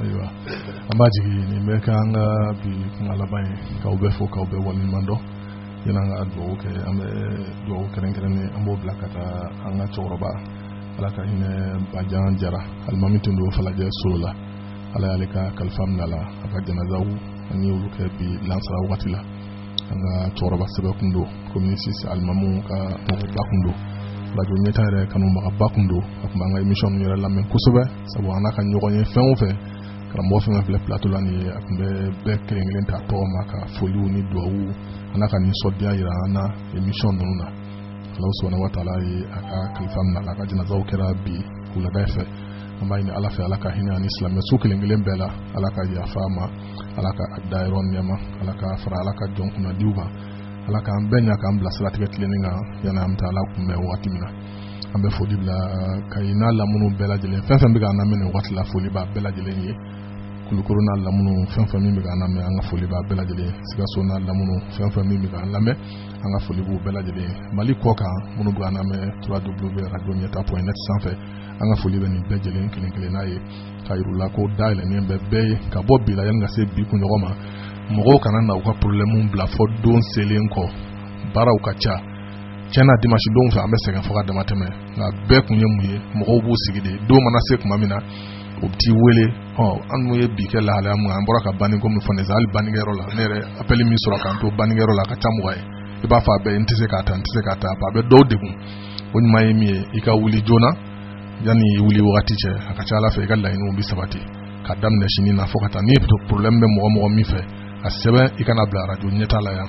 ayiwa an b'a jigin nin bɛ kɛ an ka bi kuma laban ye k'aw bɛɛ fo k'aw bɛɛ waleɲuman dɔn yani an ka dugawu kɛ an bɛ dugawu kɛrɛnkɛrɛnnen an b'o bila ka taa an ka cɛkɔrɔba ala ka hinɛ bajan jara alimami tun don falajɛ solola ala y'ale ka kalifa minɛ a la a ka janazaw an ye olu kɛ bi lansara wagati la an ka cɛkɔrɔba sɛbɛ kun don commune six alimamu ka mɔgɔba kun don radio ɲɛta yɛrɛ kanubagaba kun don a tun b'an ka emisiyɔn yɛrɛ lamɛn kosɛbɛ sabu an n'a ka ɲɔgɔn ye fɛn o fɛn karamɔgɔ fɛn fɛn filɛ plateau la nin ye a tun bɛ bɛɛ kelen kelen ta tɔgɔ ma ka foliw ni duwawu an'a ka nisɔndiya yira an na emisiyɔn ninnu na allahu subhanahu wa taala ye a ka kalifa minɛ a la a ka janazaw kɛra bi wulada fɛ an b'a ɲini ala fɛ ala ka hinɛ a ni silamɛ su kelen kelen bɛɛ la ala ka yafa a ma ala k'a dayɔrɔ nɛɛma ala k'a fara ala ka jɔn kunnadiw kan ala k'an bɛɛ ɲa k'an bila siratigɛ tilennen kan yanni an bɛ taa ala kunbɛn wagati min na an bɛ foli bila kayi n'a lamunu bɛɛ lajɛlen fɛn fɛn bɛ k'an lamɛn nin waati la foli b'a bɛɛ lajɛlen ye kulukoro n'a lamunu fɛn fɛn min bɛ k'an lamɛn an ka foli b'a bɛɛ lajɛlen ye sikaso n'a lamunu fɛn fɛn min bɛ k'an lamɛn an ka foli b'u bɛɛ lajɛlen ye mali kɔkan minnu bɛ k'an lamɛn trois w radio ɲɛta point net sanfɛ an ka foli bɛ nin bɛɛ lajɛlen kelen kelenna ye k'a yir'u la ko da yɛlɛnnen bɛ bɛɛ ye ka bɔ bi la yanni ka se bi kunɲɔgɔn ma mɔgɔw kana na u ka problɛmu bila fɔ don selen kɔ baaraw ka ca tiɲɛ na dimanche don fɛ an bɛ sɛgɛn fo ka dama tɛmɛ nka bɛɛ kun ye mun ye mɔgɔw b'u sigi de don mana se tuma min na o bɛ t'i wele ɔ an dun ye bi kɛ lahalaya mun an bɔra ka banni ko min fɔ ne hali bannikɛyɔrɔ la ne yɛrɛ appel min sɔrɔ k'an to bannikɛyɔrɔ la a ka ca mɔgɔ ye i b'a fɔ a bɛɛ n tɛ se k'a ta n tɛ se k'a ta a bɛ dɔw degun o ɲuman ye min ye i ka wuli joona yanni i wuli wagati cɛ a ka ca ala fɛ i ka laɲiniw bɛ sabati ka daminɛ sini na fo ka taa ni problème bɛ mɔgɔ mɔgɔ min fɛ a sɛbɛn i ka n'a bila arajo ɲɛtaa la yan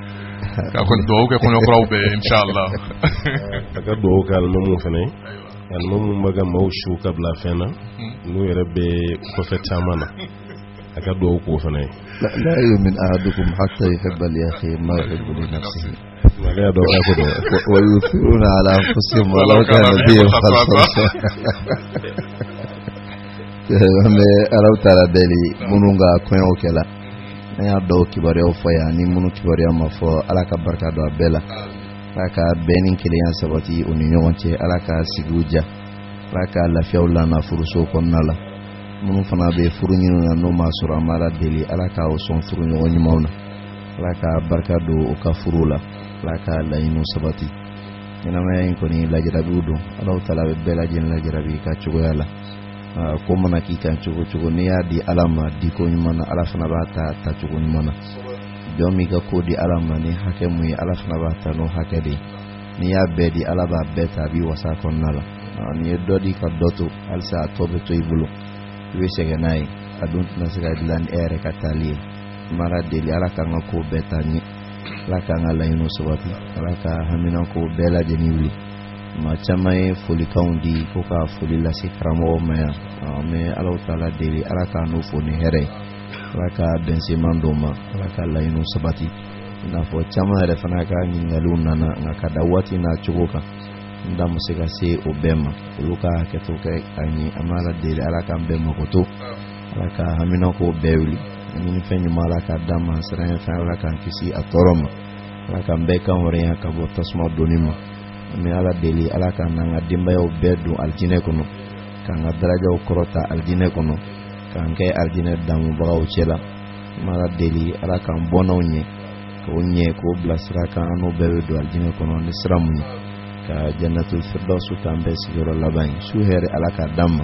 ka kɔni dugawu kɛ kɔɲɔ kuraw bɛɛ ye inshallah a ka dugawu kɛ alimamuw fana ye alimamuw bɛ ka maaw su ka bila fɛn na hmm. n'u yɛrɛ bɛ kɔfɛ caman na a ka dugawu k'u fana ye la yumin ahadukum hatta yuhibba li akhihi ma yuhibbu li nafsihi ale y'a dɔn k'a ko dɔn wa yuthiruna ala anfusihim walaw kana bihim khasasa an bɛ allahu taala deli minnu ka kɔɲɔw kɛla an y'a dɔw kibaruyaw fɔ yan ni minnu kibaruya ma fɔ ala ka barika don a bɛɛ la ala ka bɛn ni kelenya sabati u ni ɲɔgɔn cɛ ala ka sigiw diya ala ka lafiyaw lana furusow kɔnɔna la minnu fana bɛ furu ɲini na n'u m'a sɔrɔ an b'ala deli ala ka u sɔn furuɲɔgɔn ɲumanw na ala ka barika don u ka furuw la ala ka laɲiniw sabati ɲɛnamaya in kɔni lajarabiw don allahu taala bɛ bɛɛ lajɛlen lajarabi a ka cogoya la ko mana k'i kan cogo cogo n'i y'a di ala ma di ko ɲuman na ala fana b'a ta ta cogo ɲuman na jɔn min ka ko di ala ma ni hakɛ mun ye ala fana b'a ta n'o hakɛ de ye n'i y'a bɛɛ di ala b'a bɛɛ ta a b'i wasa kɔnɔna la n'i ye dɔ di ka dɔ to halisa a tɔ bɛ to i bolo i bɛ sɛgɛn n'a ye a dun tɛna se ka dilan ni e yɛrɛ ka taali ye an b'ala deli ala k'an ka ko bɛɛ ta ɲɛ ala k'an ka laɲiniw sabati ala ka haminanko bɛɛ lajɛlen wuli maa caman ye folikanw di ko ka foli lase karamɔgɔ ma yan an bɛ ala taala deli ala k'a n'o fo ni hɛrɛ ye ala ka bɛnsenman d'o ma ala ka laɲiniw sabati i n'a fɔ caman yɛrɛ fana ka ɲininkaliw nana nka ka da waati n'a cogo kan n da ma se ka se o bɛɛ ma olu ka hakɛto kɛ ka ɲɛ an b'ala deli ala k'an bɛɛ makoto ala ka haminanko bɛɛ wuli ɲinifɛn ɲuman ala k'a d'an ma siranɲɛfɛn ala k'an kisi a tɔɔrɔ ma ala k'an bɛɛ kanhɔrɔnya ka bɔ tasuma donni ma an bɛ ala deli ala k'an n'an ka denbayaw bɛɛ don alijinɛ kɔnɔ k'an ka darajaw kɔrɔta alijinɛ kɔnɔ k'an kɛ alijinɛ damubagaw cɛ la an bɛ ala deli ala k'an bɔnnaw ɲɛ k'o ɲɛ k'o bila sira kan an n'o bɛɛ bɛ don alijinɛ kɔnɔ ni sira mun ye ka jannatu firdawsu k'an bɛɛ sigiyɔrɔ laban ye su hɛrɛ ala k'a d'an ma